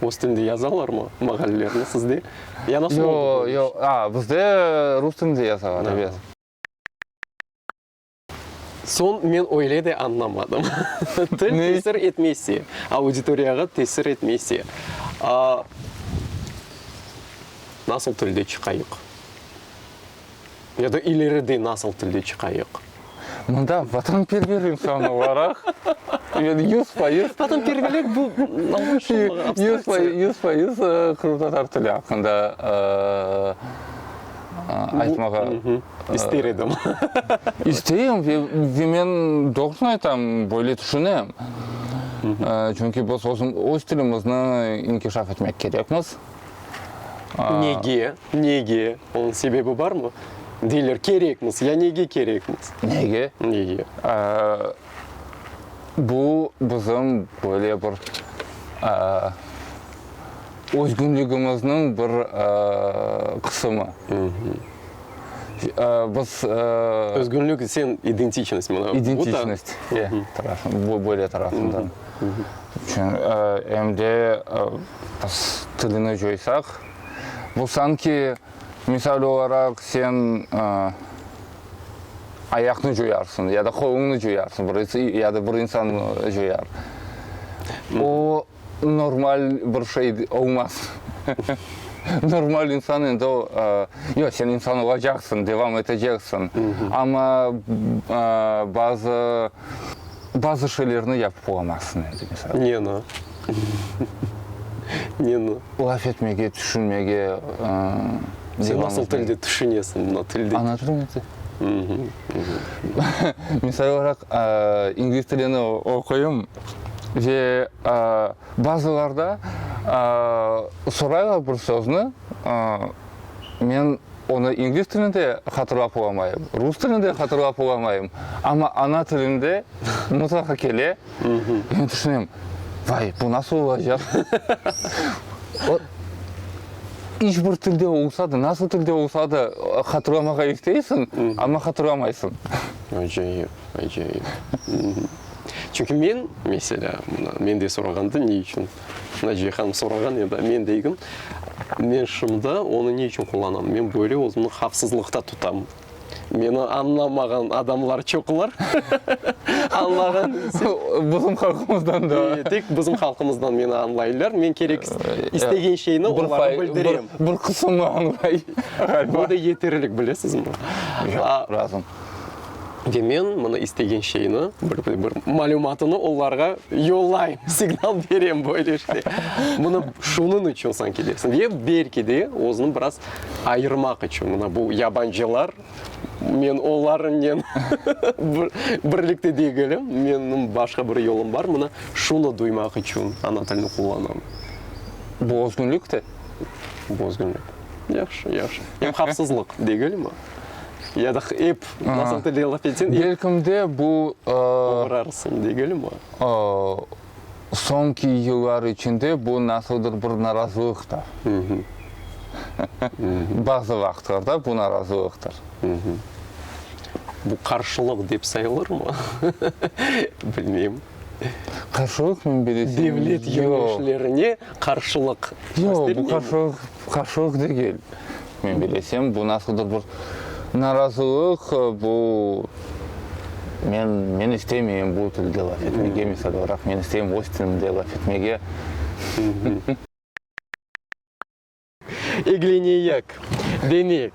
rus tilde yazalarmı mağallerni sizde? Ya nasıl oldı bu iş? Yoq, yoq, a, bizde rus tilde yazalar, ebet. Soñ men öyle de añlamadım. Til tesir etmese, auditoriyağa tesir etmese, nasıl tilde çıqayıq? Ya da ileride nasıl tilde çıqayıq? Mında vatanperver insan olaraq, men yüz fayız, Vatanperverlik bu, yüz fayız qırımtatar tili aqqında aytmağa İster edim. İsteyim ve men doğrusını aytam, böyle tüşünem. Çünki biz öz tilimizni inkişaf etmek kerekmiz. Nege? Nege? Onıñ sebebi barmı? Deyler, kerekmiz. Ya nege kerekmiz? Nege? Nege? bu bizim böyle bir özgünligimizniñ bir qısımı. Biz. Özgünlik, sen identiçnost. İdentiçnost, ya, bu böyle tarafından. Em de biz tilini coysaq, bu sanki, misal olaraq, sen. ayaqnı cuyarsıñ ya da qoluñnı cuyarsıñ, bir ins, ya da bir insan cuyar. O, normal bir şey olmaz. Normal insan endi o, yoq, sen insan olacaqsıñ, devam eteceksiñ, amma bazı, bazı şeylerni yapıp olamazsıñ endi, misal. Ne no? Ne no? Laf etmege, tüşünmege devam. Sen nasıl tilde tüşünesiñ mına tilde? Ana tilim edi. Misal olaraq, ingliz tilini oquyım ve bazılarda soraylar bir sözni, men onı ingliz tilinde hatırlap olamayım, rus tilinde hatırlap olamayım, amma ana tilimde mutlaqa kele. Men tüşünem, vay, bu nasıl olacaq? O, iç bir tilde olsa da, nasıl tilde olsa da hatırlamağa isteysiñ, amma hatırlamaysıñ. Acayip, acayip. Çünki men, meselâ, men de sorağanda, ne içün Naciye hanım sorağan edi, men degim, men şunda onı ne içün qullanam? Men böyle özümni havfsızlıqta tutam. Meni añlamağan adamlar çoqlar. Añlağan dese. Bizim halqımızdan da. E, tek bizim halqımızdan meni añlaylar. Men kerek istegen şeyni oñlağa bildirem. Bir qısımı añlay. Bu da yeterlik, bilesizmi? Yoq, razım. Ve men mına istegen şeyni, bir malümatını olarğa yollayım, signal berem böyle işte. Mına şunıñ içün sen kelesiñ. Ve belki de, özüni biraz ayırmaq içün, mına bu yabancılar, men onlarıñnen birlikte degilim, menim başqa bir yolum bar, mına şunı duymaq içün ana tilini qullanam. Bu özgünlük te. Bu özgünlük. Yahşı, yahşı. Em havfsızlıq degilmi? Ya da ep nasıl telde laf etsen, belkim de bu, oğrarsıñ degilmi? soñki yıllar içinde bu nasıldır bir narazılıqtır. Bazı vaqıtlarda bu narazılıqtır. Bu qarşılıq dep sayılırmı? Bilmeyim. Qarşılıq men bilesem yoq. Devlet yöneticlerine qarşılıq göstermeymi? Yoq, bu qarşılıq. Qarşılıq degil. Men bilesem, bu nasıldır bir narazılıq, bu, men, men istemeyim bu tilde laf etmege, misal olaraq, men isteyim öz tilimde laf etmege. Egleneyik, deneyik.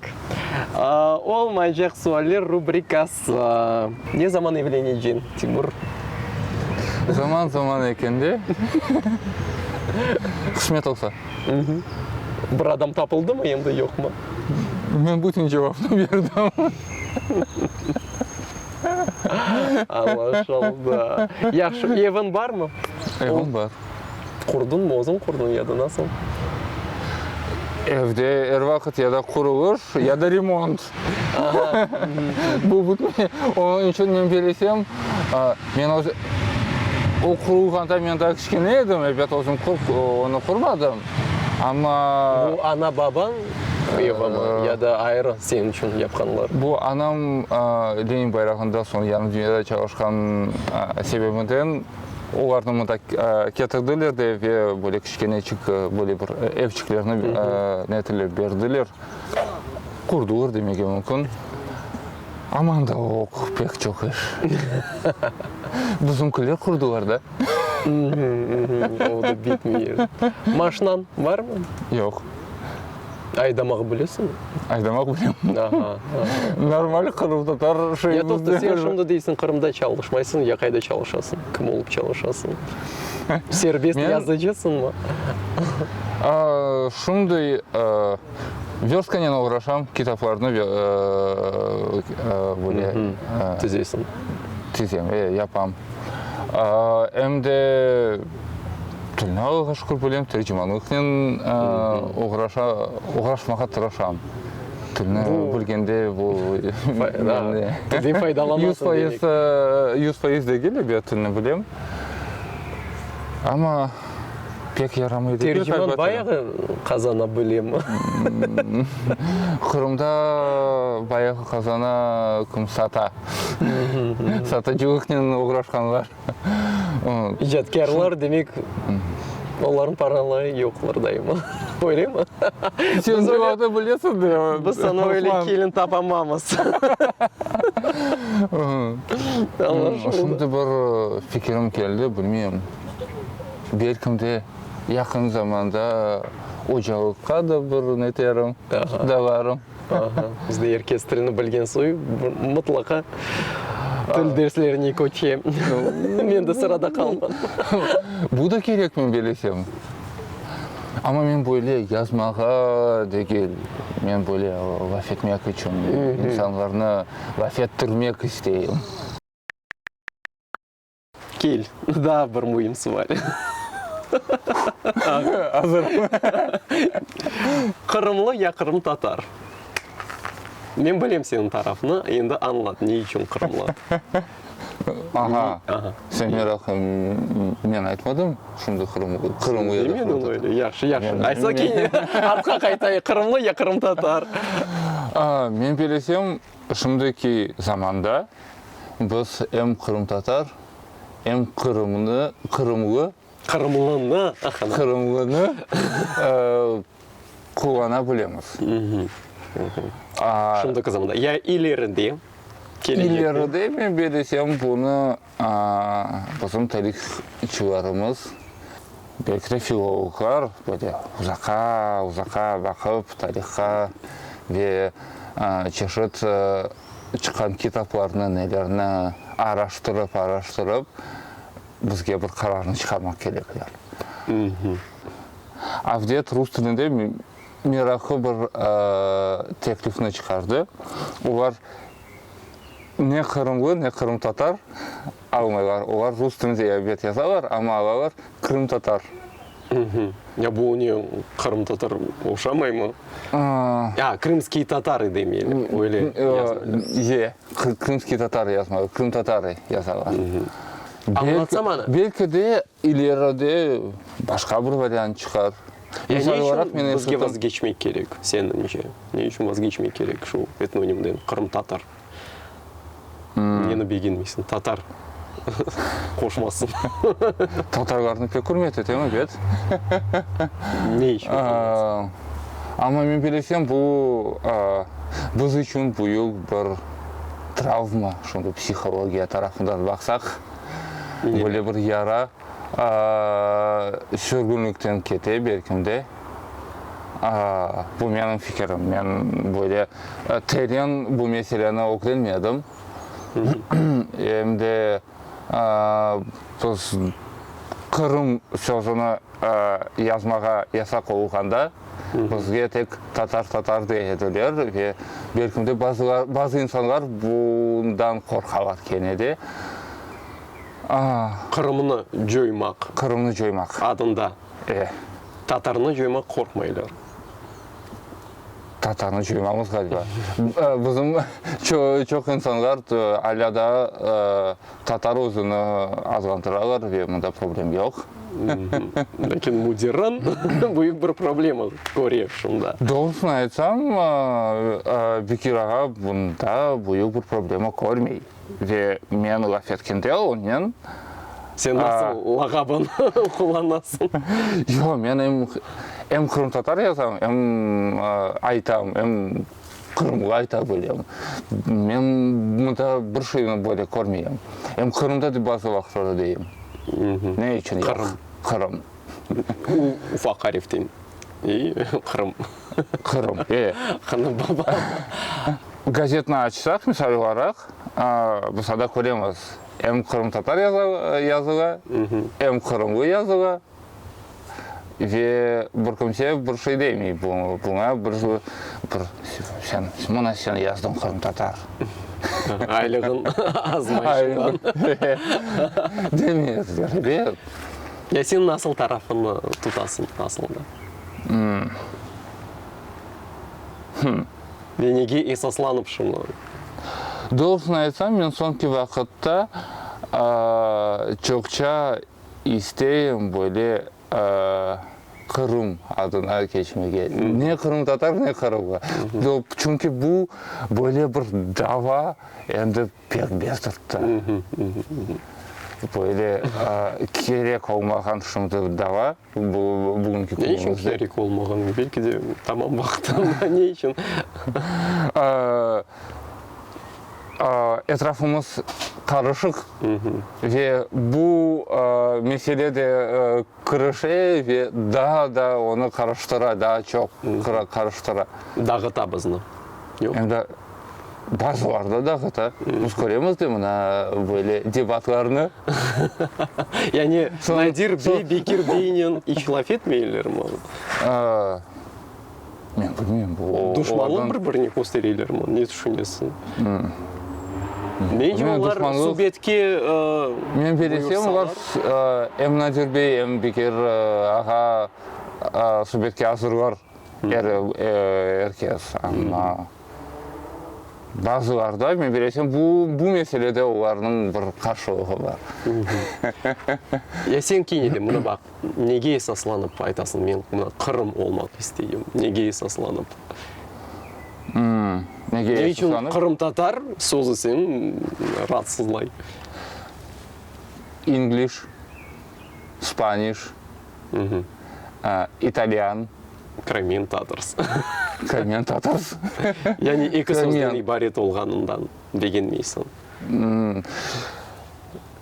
Olmaycaq sualler rubrikası. Za, ne zaman evlenecen, Timur? Zaman zaman eken de, qısmet olsa. Bir adam tapıldı mı endi, yoq mı? Men bütün cevapnı berdim. Anlaşıldı. Yahşı, eviñ barmı? Evim bar. Qurdun mu, özüñ qurdun ya da nasıl? Evde er vaqıt ya da qurulış, ya da remont. Bu bitmey. Onıñ içün men belesem, men öz o qurulğanda men daa kiçkene edim, ebet, özüm ko'p onı qurmadım. Amma. Bu ana babañ evimi ya da ayrı señ içün yapqanlar? Bu anam Lenin bayrağında soñ yarım dünyada çalışqan sebebinden olarnı mında ketirdiler de ve böyle kiçkenecik böyle bir evçiklerni netilep berdiler. Qurdular demege mümkün, aman da oq, pek çoq iş. Bizimkiler qurdular da. O da bitmey yerde. Maşinañ barmı? Yoq. Aydamaq bilesiñmi? Aydamaq bilem. Aha, aha. Normal qırımtatar şeyimizde. Ya toqta, sen şimdi deysiñ, Qırımda çalışmaysıñ, ya qayda çalışasıñ, kim olıp çalışasıñ? Serbest yazıcısınmı? Şunday verstkanen oğraşam, kitaplarnı böyle tizesiñ? Tizem, e, yapam. Em de tilni Allağa şükür bilem, tercimanlıqnen oğraşmağa tırışam. Tilni bilgende bu yüz fayız degil, elbet tilni bilem. Amma pek yaramaydı. Terciman bayağı qazana bile mi? Qırımda bayağı qazana, kim sata. Satıcılıqnen oğraşqanlar. İcatkârlar, demek, onların paraları yoqlar daima. Öyle mi? Sen cevabını bilesiñ de. Biz sana öyle kelin tapamamız. Şimdi bir fikirim keldi, bilmeyim. Belkim de yaqın zamanda ocalıqqa da bir neterim, dalarım. Aha, bizde er kes tilni bilgen soy mıtlaqa til derslerine köçe. Men de sırada qalmadım. Bu da kerekmi belesem. Amma men böyle yazmağa degil, men böyle laf etmek içün, insanlarnı laf ettirmek isteyim. Kel, daa bir müim suval. Qırımlı ya qırımtatar? Men bilem seniñ tarafnı, endi añlat, ne içün qırımlı? Aha, sen meraqlı, men aytmadım şimdi qırımlı, qırımlı ya da qırımtatar. Demedin öyle, yahşı, yahşı. Aytsa kene artqa qaytayıq, qırımlı ya qırımtatar? Men belesem. Şimdiki zamanda biz em qırımtatar, em qırımnı, qırımlı, Qırımlını, aha, qırımlını qullana bilemiz. Şimdiki zamanda, ya ileride kelecektde? İleride men belesem bunı Bizim tarihçılarımız, belki de filologlar böyle uzaqa, uzaqa baqıp tarihqa ve çeşit çıqqan kitaplarnı, nelerni araştırıp, araştırıp bizge bir qararnı çıqarmaq kerekler. Avdet rus tilinde meraqlı bir teklifni çıqardı. Olar, Ne qırımlı, ne qırımtatar almaylar. Olar rus tilinde elbet yazalar, amma alalar qırımtatar. Uhmm. Ya bu oña qırımtatar oşamaymı? Aa, krımskiy tatarı demeli, öyle yazmalı. Ye, krımskiy tatarı yazmalı, qırımtatarı yazalar. Uhmm. Belki de İleride başqa bir variant çıqar. Ya ne içün bizge vazgeçmek kerek, senıñce? Ne içün vazgeçmek kerek şu etnonimden, qırımtatar? Neni begenmeysiñ, tatar qoşması? Tatarlarnı pek ürmet etem, ebet. Ne içün ürmet? Amma men bilesem, bu biz içün büyük bir travma, şunday psihologiya tarafından baqsaq. böyle bir yara sürgünlikten kete, belkim de. Bu menim fikirim. Men böyle teren bu meseleni ögrenmedim. Em de biz Qırım sözüni. yazmağa yasaq olğanda bizge tek tatar, tatar dey ediler ve belkim de bazılar, bazı insanlar bundan qorqalar kene de. Aa. Qırımnı coymaq. Qırımnı coymaq. Adında. E. Tatarnı coymaq qorqmaylar. Tatarnı coymamız, ğaliba. Bizim çoq insanlar alâ daa. Tatar özüni azğandıralar ve mında problem yoq. Lâkin müdirran büyük bir problema köre şunda. Doğrusını aytsam, Bekir ağa bunda büyük bir problema körmey. Ve men laf etkende onnen. Sen nasıl lağabın qullanasıñ? Yoq, men em qırımtatar yazam, em aytam, em Qırımğa ayta bilem. Men mında bir şeyni böyle körmeyem. Em Qırımda da bazı vaqıtlarda deyim. Ne içün Qırım? Qırım. U ufaq arif deyin. İ, Qırım. Qırım, e. Qırım baba. Gazetni açsaq, misal olaraq, mısal da köremiz, em qırımtatar yazıla, em qırımlı yazıla. Ve bir kimse bir şey demey buña, bir sen, mına sen yazdıñ qırımtatar. Aylığın azmayışından. Demezler, yoq. Ya sen nasıl tarafını tutasıñ asılında? Ve nege esaslanıp şunı? Doğrusını aytsam, men soñki vaqıtta çoqça isteyim böyle Qırım adına keçmege. Ne qırımtatar, ne qırımlı. Çünki bu böyle bir dava endi pek bezdirtti. Böyle kerek olmağan şimdi dava bugünki künümizde. Ne içün kerek olmağan? Belki de tamam vaqtında ne içün? Etrafımız qarışıq ve bu mesele de kırışe ve daa da onı qarıştıra, daa çoq qarıştıra. Dağıta bizni. Endi bazılarda dağıta. Biz köremiz de mına böyle debatlarnı. Yani Nadir bey Bekir beynen ihtilaf etmeylermi? Men bilmem, bu duşmanlıqtan. Olar bir-birini köstereyler mi, ne tüşünesiñ? Nece olar subetke buyursalar? Men belesem, olar em Nadir bey, em Bekir ağa subetke azırlar, er kez. Amma bazılarda, men belesem, bu meselede olarnıñ bir qarşılığı bar. Ya sen kine de, mına baq, Nege esaslanıp aytasıñ, men mına Qırım olmaq isteyim? Nege esaslanıp? Nege esaslanıp? Ne içün qırımtatar sözü seni raatsızlay? İngliş, spaniş, italyan. Crimean Tatars. Crimean Tatars. Yani eki sözden ibaret olğanından begenmeysiñ.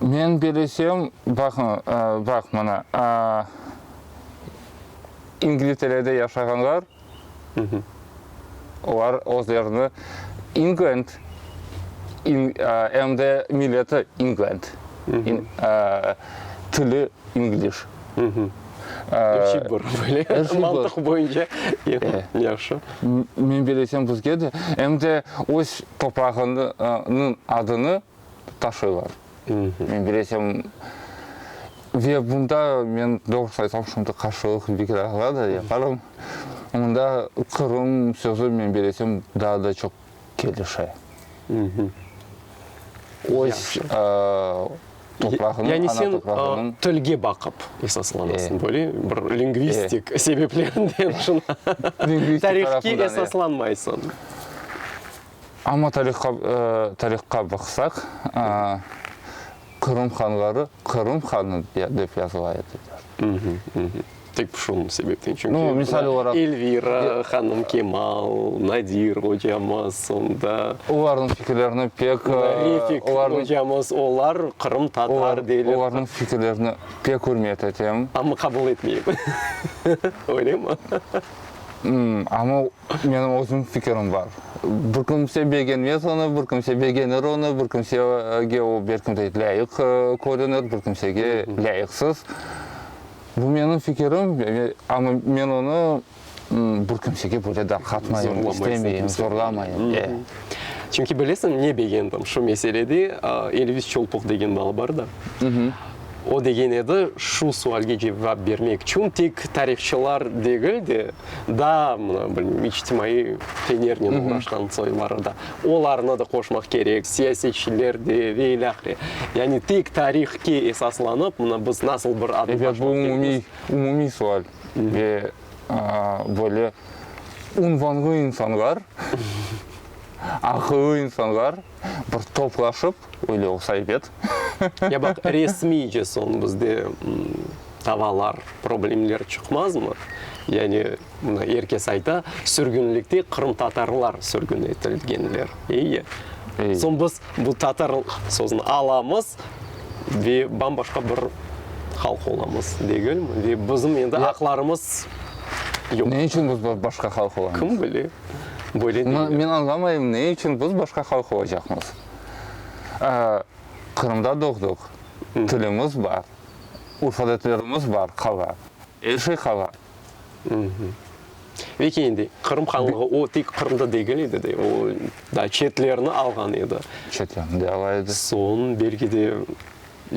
Men bilesem, baq mına, İngilterede yaşağanlar, olar özlerini İnglend, em de milleti İnglend, tili İngliş. Eşi bor, böyle mantıq boyunca. Yahşı. Men belesem, bizge de, em de öz toprağınıñ adını taşıylar. Men belesem, ve bunda men, doğrusu aytam, şimdi qarşılıq bir kere alada yaparım. Mında Qırım sözü, men belesem, daa da çoq kelişe, öz toprağınıñ, ana toprağınıñ. Tilge baqıp esaslanasıñ, böyle bir lingvistik sebeplerden şuna tarihke esaslanmaysıñ. Amma tarihqa baqsaq, Qırım hanları Qırım hanı dep yazıla ediler. Tek bir şunıñ sebepten, çünki Elvira hanım Kemal, Nadir ocamız, sonda. Olarnıñ fikirlerini pek. Refik ocamız, olar Qırım tatar deyler. Olarnıñ fikirlerini pek ürmet etem. Amma qabul etmeyim. Öylemi? Amma menim özüm fikirim bar. Bir kimse begenmez onı, bir kimse begenir onı, bir kimsege o belki de lâyıq körünir, bir kimsege lâyıqsız. Bu menim fikirim, amma men onı bir kimsege böyle darqatmayım, istemeyim, zorlamayım, e. Çünki bilesiñ, ne begendim şu meselede, Elvis Çolpoq degen bala bar da, o degen edi, şu sualge cevap bermek içün tek tarihçılar degil de, daa, mına, bilmeyim, içtimaiy fenernen uğraşqan soyları da Olarnı da qoşmaq kerek, siyasetçiler de ve ilâhre. Yani tek tarihke esaslanıp, mına biz nasıl bir adım taşlap keldik. Elbet bu umumiy, umumiy sual ve böyle unvanlı insanlar, aqıllı insanlar bir toplaşıp öyle olsa ebet. Ya baq, resmiyce soñ bizde davalar, problemler çıqmazmı? Yani. Bunı er kes ayta, sürgünlikte qırımtatarlar sürgün etilgenler. İyi. Soñ biz bu tatar sözüni alamız ve bam-başqa bir halq olamız, degilmi? Ve bizim endi aqlarımız yoq. Ne içün biz başqa halq olamız? Kim bile, böyle deyler. Men añlamayım, ne içün biz başqa halq olacaqmız? Qırımda doğduq, tilimiz bar, urf-adetlerimiz bar, qala. Er şey qala. Ve ki endi Qırım Hanlığı o tek Qırımda degil edi de, o daa çetlerni alğan edi. Çetlerni de ala edi. Soñ belki de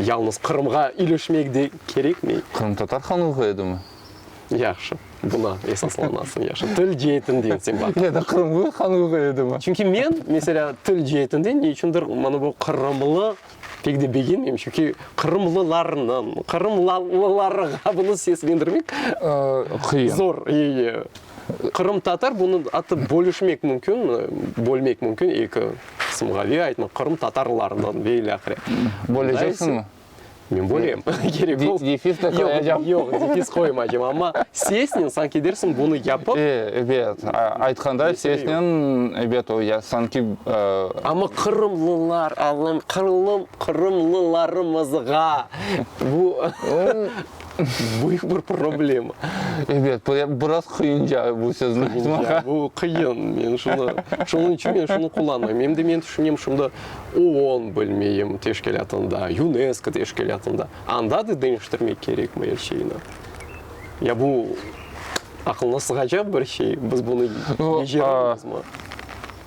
yalnız Qırımğa ilişmek de kerekmi? Qırımtatar Hanlığı edimi? Yahşı, buna esaslanasıñ, yahşı. Til ceetinden sen baq. Ya da Qırımlı Hanlığı edimi? Çünki men, meselâ, til ceetinden ne içündir, mana bu qırımlı Pek de begenmeyim, çünki qırımlılarnıñ, qırımlılarğa bunı seslendirmek zor. Qırımtatar, bunı atıp bölüşmek mümkün, bölmek mümkün eki qısımğa, ve aytmaq, qırımtatarlarnıñ ve ile ahire. Böleceksiñmi? Men bölem. Defiz de qoyacam. Yoq, yoq, defiz qoymaycam, amma sesnen sanki dersiñ bunı yapıp. Ebet, aytqanda sesnen, ebet, o ya sanki. Amma qırımlılar alım, qırılım, qırımlılarımızğa bu büyük bir problema. Ebet, biraz qıyınca bu sözni aytmağa. Bu qıyın, men şunı, şunıñ içün men şunı qullanmayım. Em de men tüşünem, şunda OON, bilmeyim, teşkilâtında, UNESCO teşkilâtında, anda da deñiştirmek kerekmi er şeyni? Ya bu aqılğa sığacaq bir şey, biz bunı beceremizmi?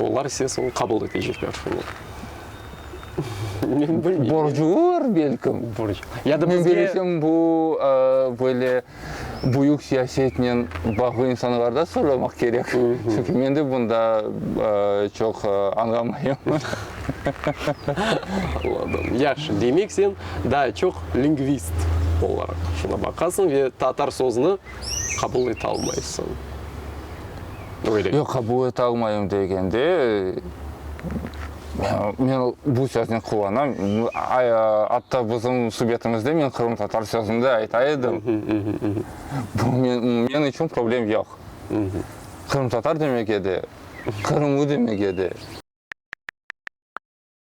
Olar ise soñ qabul etecekler. Men bilmeyim. Borcular belkim. Borc. Ya da bizge... Bilsem bu böyle büyük siyasetnen bağlı insanlarda soramaq kerek. Çünki men de bunda çoq añlamayım. Anladım. Yahşı. Demek sen daa çoq lingvist olaraq şuna baqasıñ ve tatar sözüni Qabul etalmaysıñ, öyle. Yoq, qabul etalmayım degende, men bu söznen qullanam, atta bizim subetimizde men qırımtatar sözün de ayta edim. Bu men içün problem yoq. Qırımtatar demek edi, qırımlı demek edi.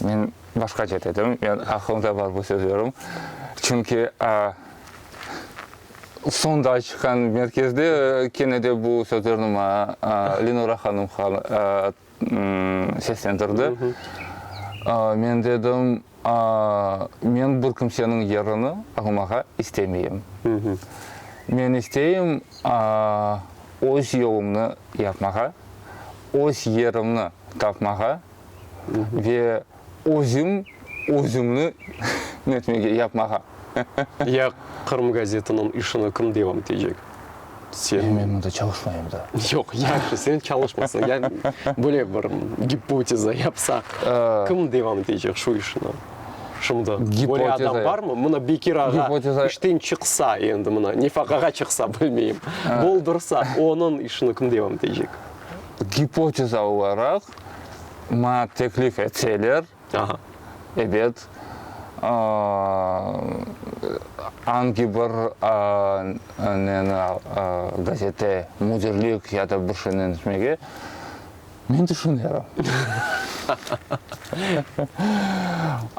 Men başqaça dedim, men aqılımda bar bu sözlerim. Çünki sonda çıqqan merkezde kene de bu sözlerni maña Lenura hanım seslendirdi. Men dedim, men bir kimseniñ yerini almağa istemeyim. Men isteyim öz yolumnı yapmağa, öz yerimni tapmağa. ve özüm özümni netmege, yapmağa. Ya Qırım gazetiniñ işini kim devam etecek? Sen. Ya men mında çalışmayım da. Yoq, yahşı, sen çalışmasın, ya böyle bir gipoteza yapsaq, kim devam etecek şu işni? Şimdi böyle adam barmı? Mına Bekir ağa işten çıqsa, endi mına nefaqağa çıqsa, bilmeyim, boldursa, onıñ işini kim devam etecek? Gipoteza olaraq, Maña teklif etseler, ebet, angi bir neni, gazete müdirlik ya da bir şeynen etmege, men tüşünerim.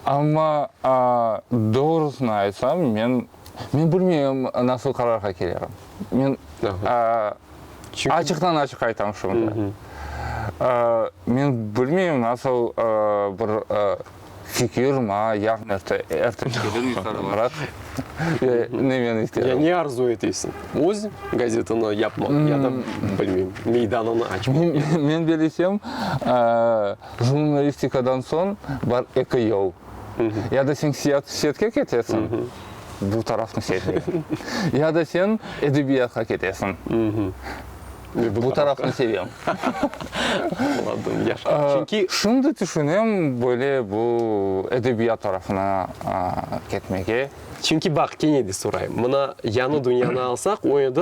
Amma, doğrusını aytsam, men Men bilmeyim, nasıl qararğa kelerim. Men açıqtan-açıq aytam şimdi. Men bilmeyim, nasıl bir fikir ma, yarın erte kelirmi yuqarı barat, ya ne men isterim. Ya ne arzu etesiñ, öz gazetanı yapmaq ya da, bilmeyim, meydanını açmaq? Men bilesem, jurnalistikadan soñ bar eki yol. Ya da sen siyatke ketesiñ, bu tarafnı sevmeyim. Ya da sen edebiyatqa ketesiñ. Bu tarafnı sevem. Şimdi tüşünem, böyle, bu edebiyat tarafına ketmege. Çünki baq, kene de sorayım. Mına yañı dünyanı alsaq, o endi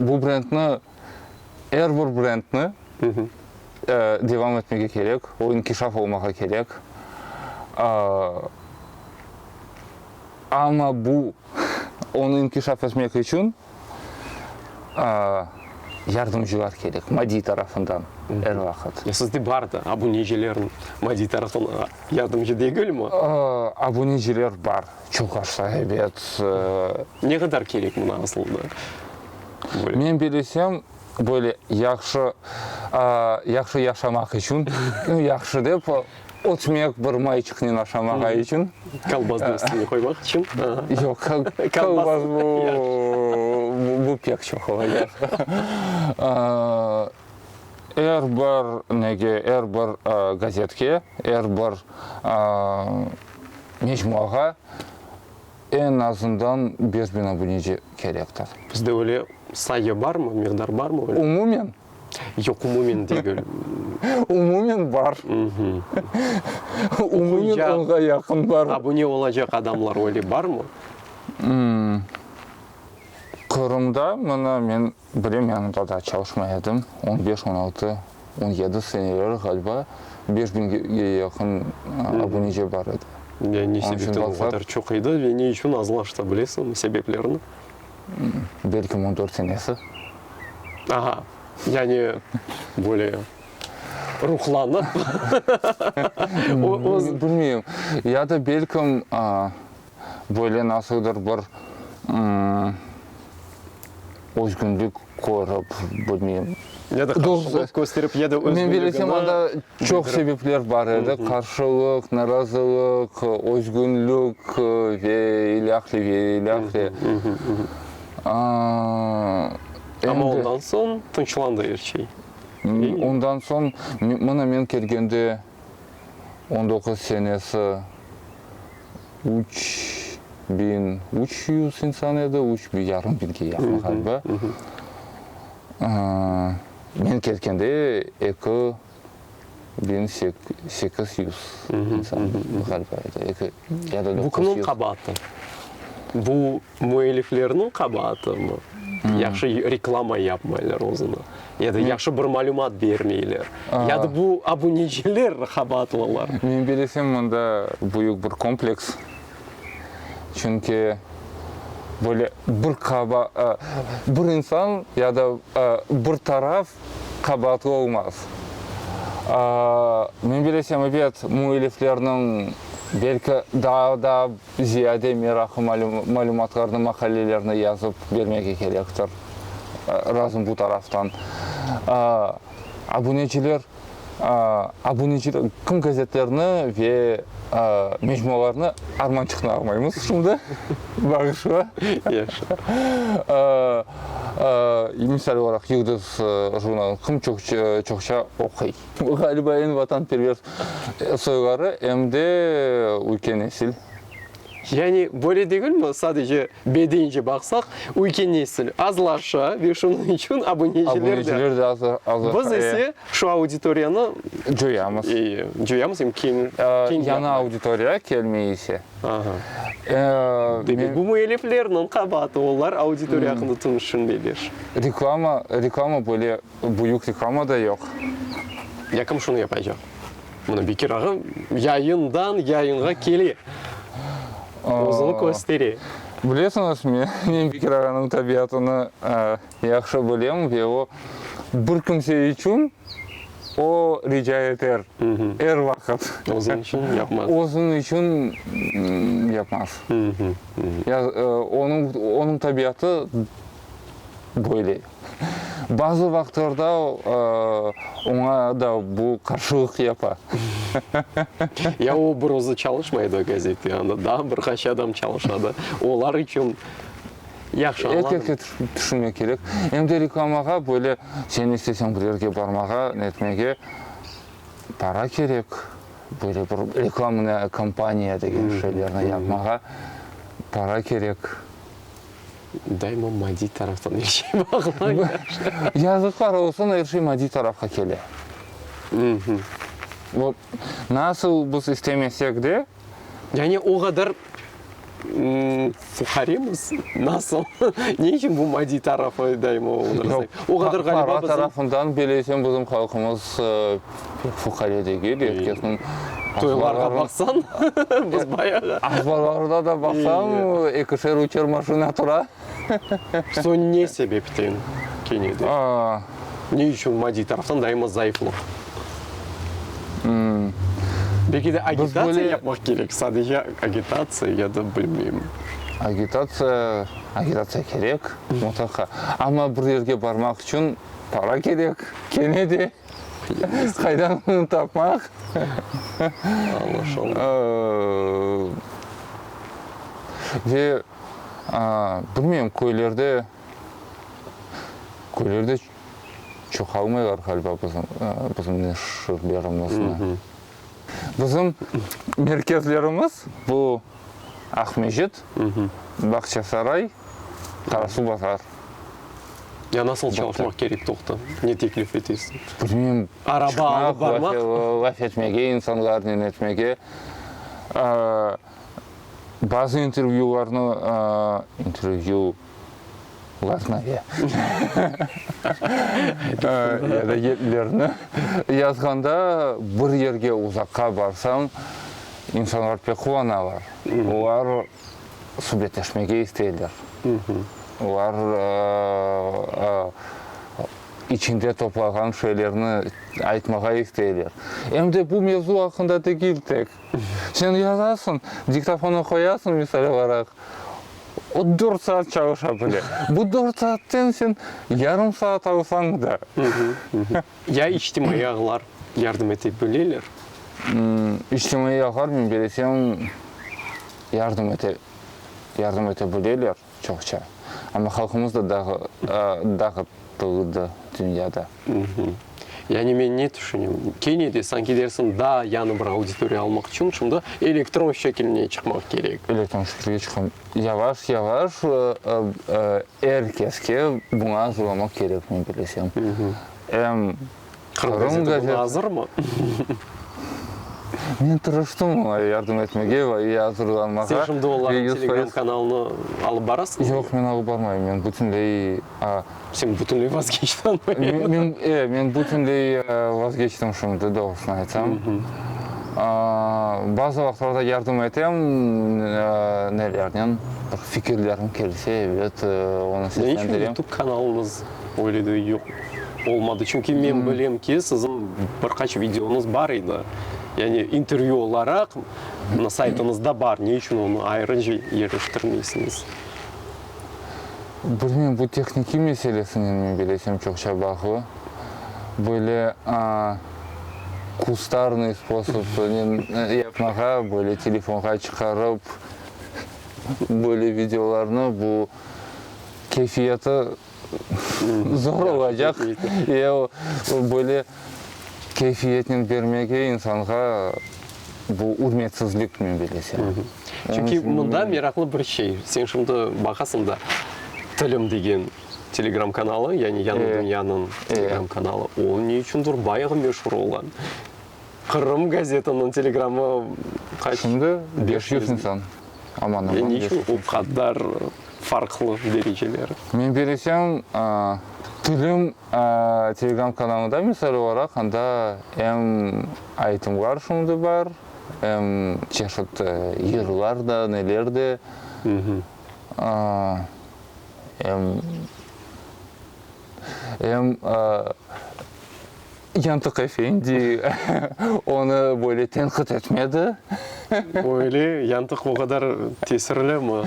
Bu brendni, er bir brendni devam etmege kerek, o inkişaf olmağa kerek. Amma bu, onı inkişaf etmek içün yardımcılar kerek, maddiy tarafından er vaqıt. Ya sizde bardı, abunecilerniñ maddiy tarafından yardımcı degilmi? Abuneciler bar. Çoq aşa, ebet. Ne qadar kerek mına asılda? Men bilesem, böyle yahşı, yahşı yaşamaq içün, yahşı dep, ötmek bir mayçıqnen aşamağa içün. Kolbasnıñ üstüne qoymaq içün? Yoq, kolbas bu, bu pek çoq ola. Er bir nege, er bir gazetke, er bir. Mecmuağa eñ azından beş biñ abuneci kerektir. Bizde öyle sayı barmı, miqdar barmı öyle? Umumen? Yoq, umumen degil. Umumen bar. Umumen onğa yaqın bar. Abune olacaq adamlar öyle barmı? Qırımda, mına, men Bilem, yanında da çalışmay edim. On beş, on altı, on yedi seneleri ğaliba beş biñge yaqın abunece bar edi. Ya ne sebepten o qadar çoq edi ve ne içün azlaştı, bilesiñmi sebeplerini? Belkim on dört senesi. Aha, yani böyle ruhlanıp, öz. Bilmeyim, ya da belkim Böyle nasıldır bir özgünlik körip, bilmeyim. Ya da qarşılıq kösterip, ya da özgünligini bildirip. Men bilesem, onda çoq sebepler bar edi, qarşılıq, narazılıq, özgünlik ve ilâhre, ve ilâhre. Amma ondan soñ tınçlandı er şey. Ondan soñ, mına men kelgende. on doquz senesi üç biñ üç yüz insan edi, üç biñ yarım biñge yaqın ğaliba. Men ketkende eki biñ sekiz yüz insan ğaliba edi. Eki ya da doquz yüz. Bu kimniñ qabaatı? Bu. Müelliflerniñ qabaatımı? Yahşı reklama yapmaylar özüne. Ya da yahşı bir malümat bermeyler. Ya da bu abuneciler qabaatlılar. Men bilesem, mında büyük bir kompleks. Çünki böyle bir qaba, bir insan ya da bir taraf qabaatlı olmaz. Men bilesem, ebet, müelliflerniñ belki daa da Ziyade meraqı malümatlarnı, maqalelerni yazıp bermege kerektir. Razım bu taraftan. Abuneciler, abuneciler, kim gazetlerni ve mecmualarnı armançıqnı almaymız şimdi, bağışla. Yahşı. Misal olaraq Yıldız jurnalını kim çoqça oquy? Bu ğaliba eñ vatanperver soyları em de üyke nesil. Yani böyle degilmi, sadece bedence baqsaq, üyke nesil azlaşa ve şunıñ içün abuneciler de azlaşa. Biz ise şu auditoriyanı coyamız. Coyamız em keñlapmay. Yañı auditoriya kelmey ise. Aha. Demek bu müelliflerniñ qabaatı, olar auditoriya aqqında tüşünmeyler. Reklama böyle Büyük reklama da yoq. Yakım şunı yapaycaq. Mına Bekir ağa yayından yayınğa kele, özüni köstere. Bilesiñiz, men Bekir ağanıñ tabiatını yahşı bilem ve o bir kimse içün o rica eter, er vaqıt. Özüñ içün yapmaz. Özüñ içün yapmaz. Onıñ tabiatı böyle. Bazı vaqtlarda oña da bu qarşılıq yapa. Ya o bir özü çalışmay edi gazette, anda daa bir qaç adam çalışadı. Olar içün yahşı añladım. Erkekke tüşünmek kerek. Em de reklamağa böyle sen isteseñ bir yerge barmağa, netmege para kerek. Böyle bir reklamnıy kampaniya degen şeylerni yapmağa para kerek. daima maddiy taraftan er şey bağlanır. Yazıqlar olsun, er şey maddiy tarafqa kele. Vot, nasıl biz istemesek de. Yani o qadar fuqaremiz, nasıl? Ne içün bu maddiy tarafı daima oğunırız? O qadar ğaliba bizim. Para tarafından, bileysen, bizim halqımız. Fuqaredege de erkekniñ Toylarğa baqsañ, biz bayağı. Arbalarda da baqsañ, ekişer-üçer maşina tura. Soñ ne sebepten kene de? Ne içün maddiy taraftan daima zayıflıq? Belki de agitatsiya yapmaq kerek, sadece agitatsiya ya da bilmeyim. Agitatsiya, agitatsiya kerek mutlaqa. Amma bir yerge barmaq içün para kerek kene de. Qaydan bunı tapmaq? Ve bilmeyim, köylerde, köylerde çoqalmaylar ğaliba bizim, bizim neşirlerimizni. Bizim merkezlerimiz bu Aqmescit, Bağçasaray, Qarasuvbazar. Ya nasıl çalışmaq kerek toqta? Ne teklif etesiñ? Bilmem. Araba alıp barmaq? Laf etmege, insanlarnen etmege. Bazı intervyülarnı, intervyu, Vladnaya ya da yerlerni yazğanda bir yerge uzaqqa barsañ, insanlar pek quvanalar. Olar subetleşmege isteyler. Olar içinde toplağan şeylerni aytmağa isteyler. Em de bu mevzu aqqında degil tek. Sen yazasıñ, diktofonğa qoyasıñ, misal olaraq, O dört saat çalışa bile. Bu dört saatten sen yarım saat alsañ da. Ya içtimaiy ağlar yardım ete bileler? İçtimaiy ağlar, men belesem, yardım ete, yardım ete bileler çoqça. Amma halqımız da dağıt, dağıt. tığıdı dünyada. Yani men ne tüşünem, kene de sanki dersiñ daa yañı bir auditoriya almaq içün şimdi elektron şekiline çıqmaq kerek. Elektron şekiline çıqam. Yavaş yavaş er keske buña azırlanmaq kerek, men bilesem. Em. Qırım gazeti buna azırmı? Men tırıştım oña yardım etmege va i azırlanmağa. Sen şimdi onların telegram kanalını alıp barasıñmı? Yoq, men alıp barmayım. Men bütünley... Sen bütünley vazgeçtiñmi? E, men bütünley vazgeçtim şimdi, doğrusını aytsam. Bazı vaqıtlarda yardım etem, nelernen, bir fikirlerim kelse, ebet, onı seslendirem. Neçün youtube kanalınız Öyle de yoq olmadı. Çünki men bilem ki, siziñ bir qaç videoñız bar edi. Yani intervyu olaraq mına saytıñızda bar. Ne içün onı ayrınca yerleştirmeysiñiz? Bilmem, bu tehnikiy meselesinen men bilesem çoqça bağlı. Böyle kustarnıy sposobnen yapmağa, böyle telefonğa çıqarıp böyle videolarnı bu. keyfiyeti zor olacaq, ya o böyle keyfiyetnen bermege insanğa bu ürmetsizlik, men bilesem. Çünki mında meraqlı bir şey, sen şimdi baqasıñ da, Tilim degen telegram kanalı, yani Yañı Dünyanıñ telegram kanalı, o ne içündir bayağı meşur olğan. Qırım gazetanıñ telegramı qaç? Şimdi beş yüz insan, aman-aman. E, ne içün o qadar farqlı dereceler? Men bilişim, Tilim telegram kanalında, misal olaraq, anda em aytımlar şimdi bar, em çeşit yırlar da, neler de, em. Em Yantık efendi onı böyle tenqit etmedi. Öyle, Yantık o qadar tesirli mi?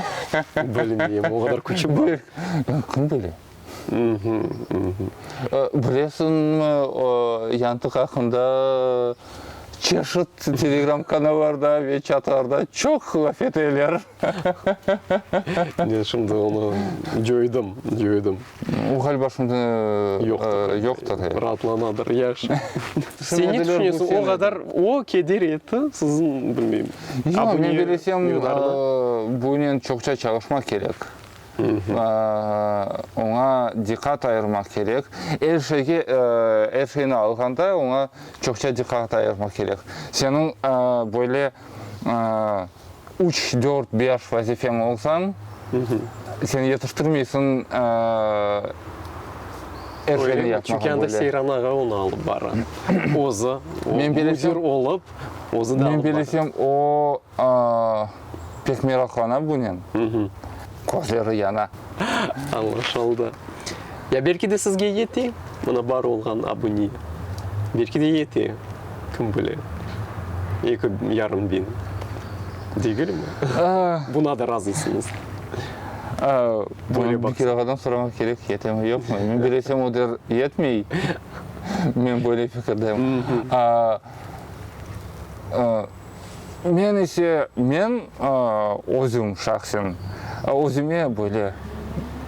Bilmeyim, o qadar küçü bar. Kim bile? Bilesiñmi, Yantık aqqında çeşit telegram kanallarda ve çatlarda çoq laf eteler. Men şimdi onı cöydim, cöydim. O, ğaliba, şimdi yoqtır. Raatlanadır, yaş. Sen ne tüşünesiñ, o qadar o keder etti siziñ, bilmeyim, abuneniñ yuqarına? Yoq, men bilesem, bunen çoqça çalışmaq kerek. Oña diqqat ayırmaq kerek. Er şeyge, er şeyni alğanda oña çoqça diqqat ayırmaq kerek. Seniñ böyle üç, dört, beş vazifeñ olsañ, sen yetiştirmeysiñ er şeyni yapmağa. Çünki anda Seyran ağa onı alıp bara. Özü müdir olıp, özü de alıp bara. Men bilesem, o pek meraqlana bunen. Közleri yana. Añlaşıldı. Ya belki de sizge yete, mına bar olğan abune. Belki de yete, kim bile. Eki yarım biñ. Degilmi? Buna da razısıñız? Bunı bir kere ağadan soramaq kerek, yetemi, yoqmı. Men bilesem, o der, yetmey. Men böyle fikirdeyim. Men ise, men özüm şahsen, özüme böyle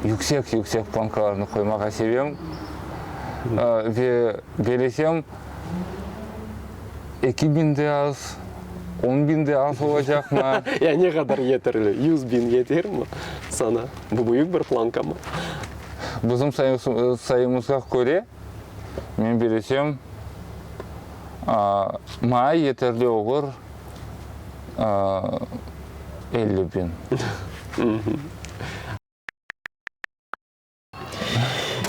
yüksek-yüksek plankalarnı qoymağa sevem. Ve belesem, eki biñ de az, on biñ de az olacaqmı? Ya ne qadar yeterli? Yüz biñ yetermi saña? Bu büyük bir plankamı? Bizim sayımızğa köre, Men belesem, maña yeterli olur elli biñ.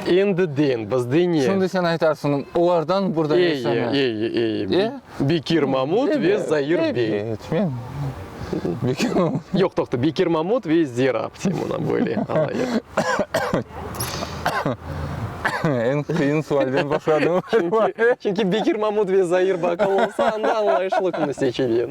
Endi deñ, biz deñe. Şimdi sen aytarsıñ, olardan burada yaşama. Ey, ey, ey, ey, ey. Bekir Mamut ve Zair bey. Evet, men Bekir Mamut. Yoq, toqta, Bekir Mamut ve Zira Abtemona, böyle alayıq. Eñ qıyın sualden başladım. Çünki Bekir Mamut ve Zair Bakal olsa, anda añlayışlı künü seçeceğim.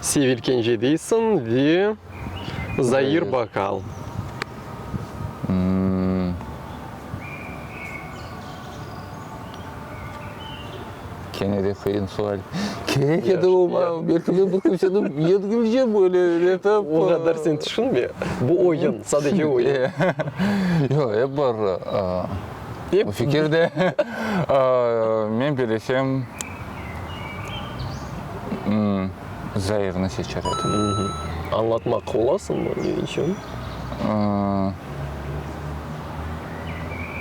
Sevil kence deysiñ ve Zair Bakal. Kene de qıyın sual. Kerek edi oña, belki men bir kimseniñ yengilce böyle etip. O qadar sen tüşünme. Bu oyun, sadece oyun. Yoq, ep bir fikir de. Men belesem. Zairni seçer edim. Añlatmaq olasıñmı, ne içün?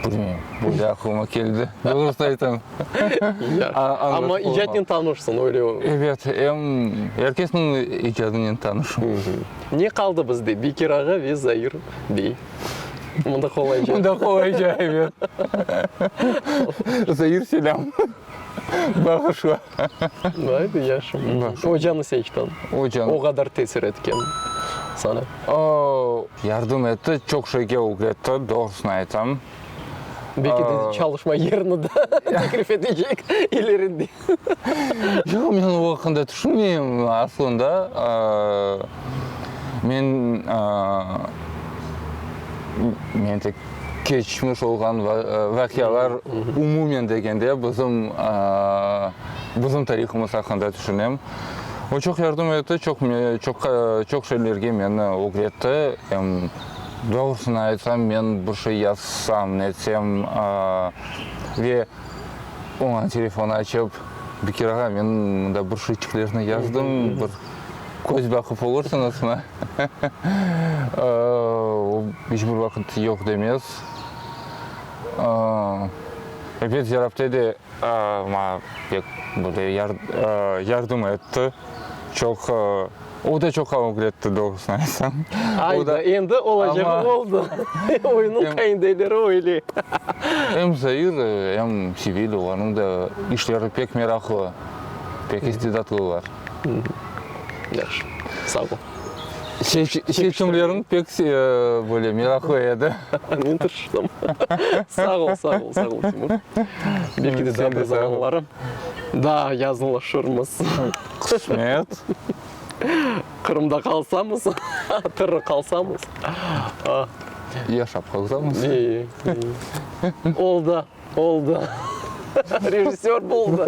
Bilmeyim, böyle aqlıma keldi, doğrusını aytam. Amma icadnen tanışsıñ, öyle ola. Ebet, er kesniñ icadınınen tanışım. Ne qaldı bizde, Bekir ağa ve Zair bey. Mında qolayca. Mında qolayca, ebet. Zair, selâm. Bağışla. Haydi yaşım. Ocanı seçtim. Ocan. O kadar tesir etken sana. Oo, yardım etti, çok şeyge ögretti, doğrusını aytam. Belki de çalışma yerini de teklif edecek ileride. Yoq, men o haqqında düşünmeyim aslında. Men, men tek keçmiş olğan vaqialar, umumen degende, bizim, bizim tarihımız aqqında tüşünem. O çoq yardım etti, çoq, çoqqa, çoq şeylerge meni ögretti. Em, doğrusını aytsam, men bir şey yazsam, netsem, ve oña telefon açıp, Bekir ağa, men mında bir şeyçiklerni yazdım, bir, Köz baqıp olursıñızmı? O iç bir vaqıt yoq demez. Elbet Zerabte de maña pek böyle yardım etti. Çoq, o da çoq köñül etti, doğrusını aytsam. Ayda, endi olacağı oldı. Oyunıñ qayndeleri öyle. Em Zair, em Sevilya, olarnıñ da işleri pek meraqlı, pek istidatlılar. Yahşı, sağ ol. Çekişimlerin pek böyle meraqlı edi. Men tırışqanım. Sağ ol, sağ ol, sağ ol, Timur. Belki de sen de zamanları daa yaqınlaşırmız. Qısmet. Qırımda qalsamız, tırı qalsamız. Yaşap qalsamız. Oldı. Oldu. Rejissör boldı.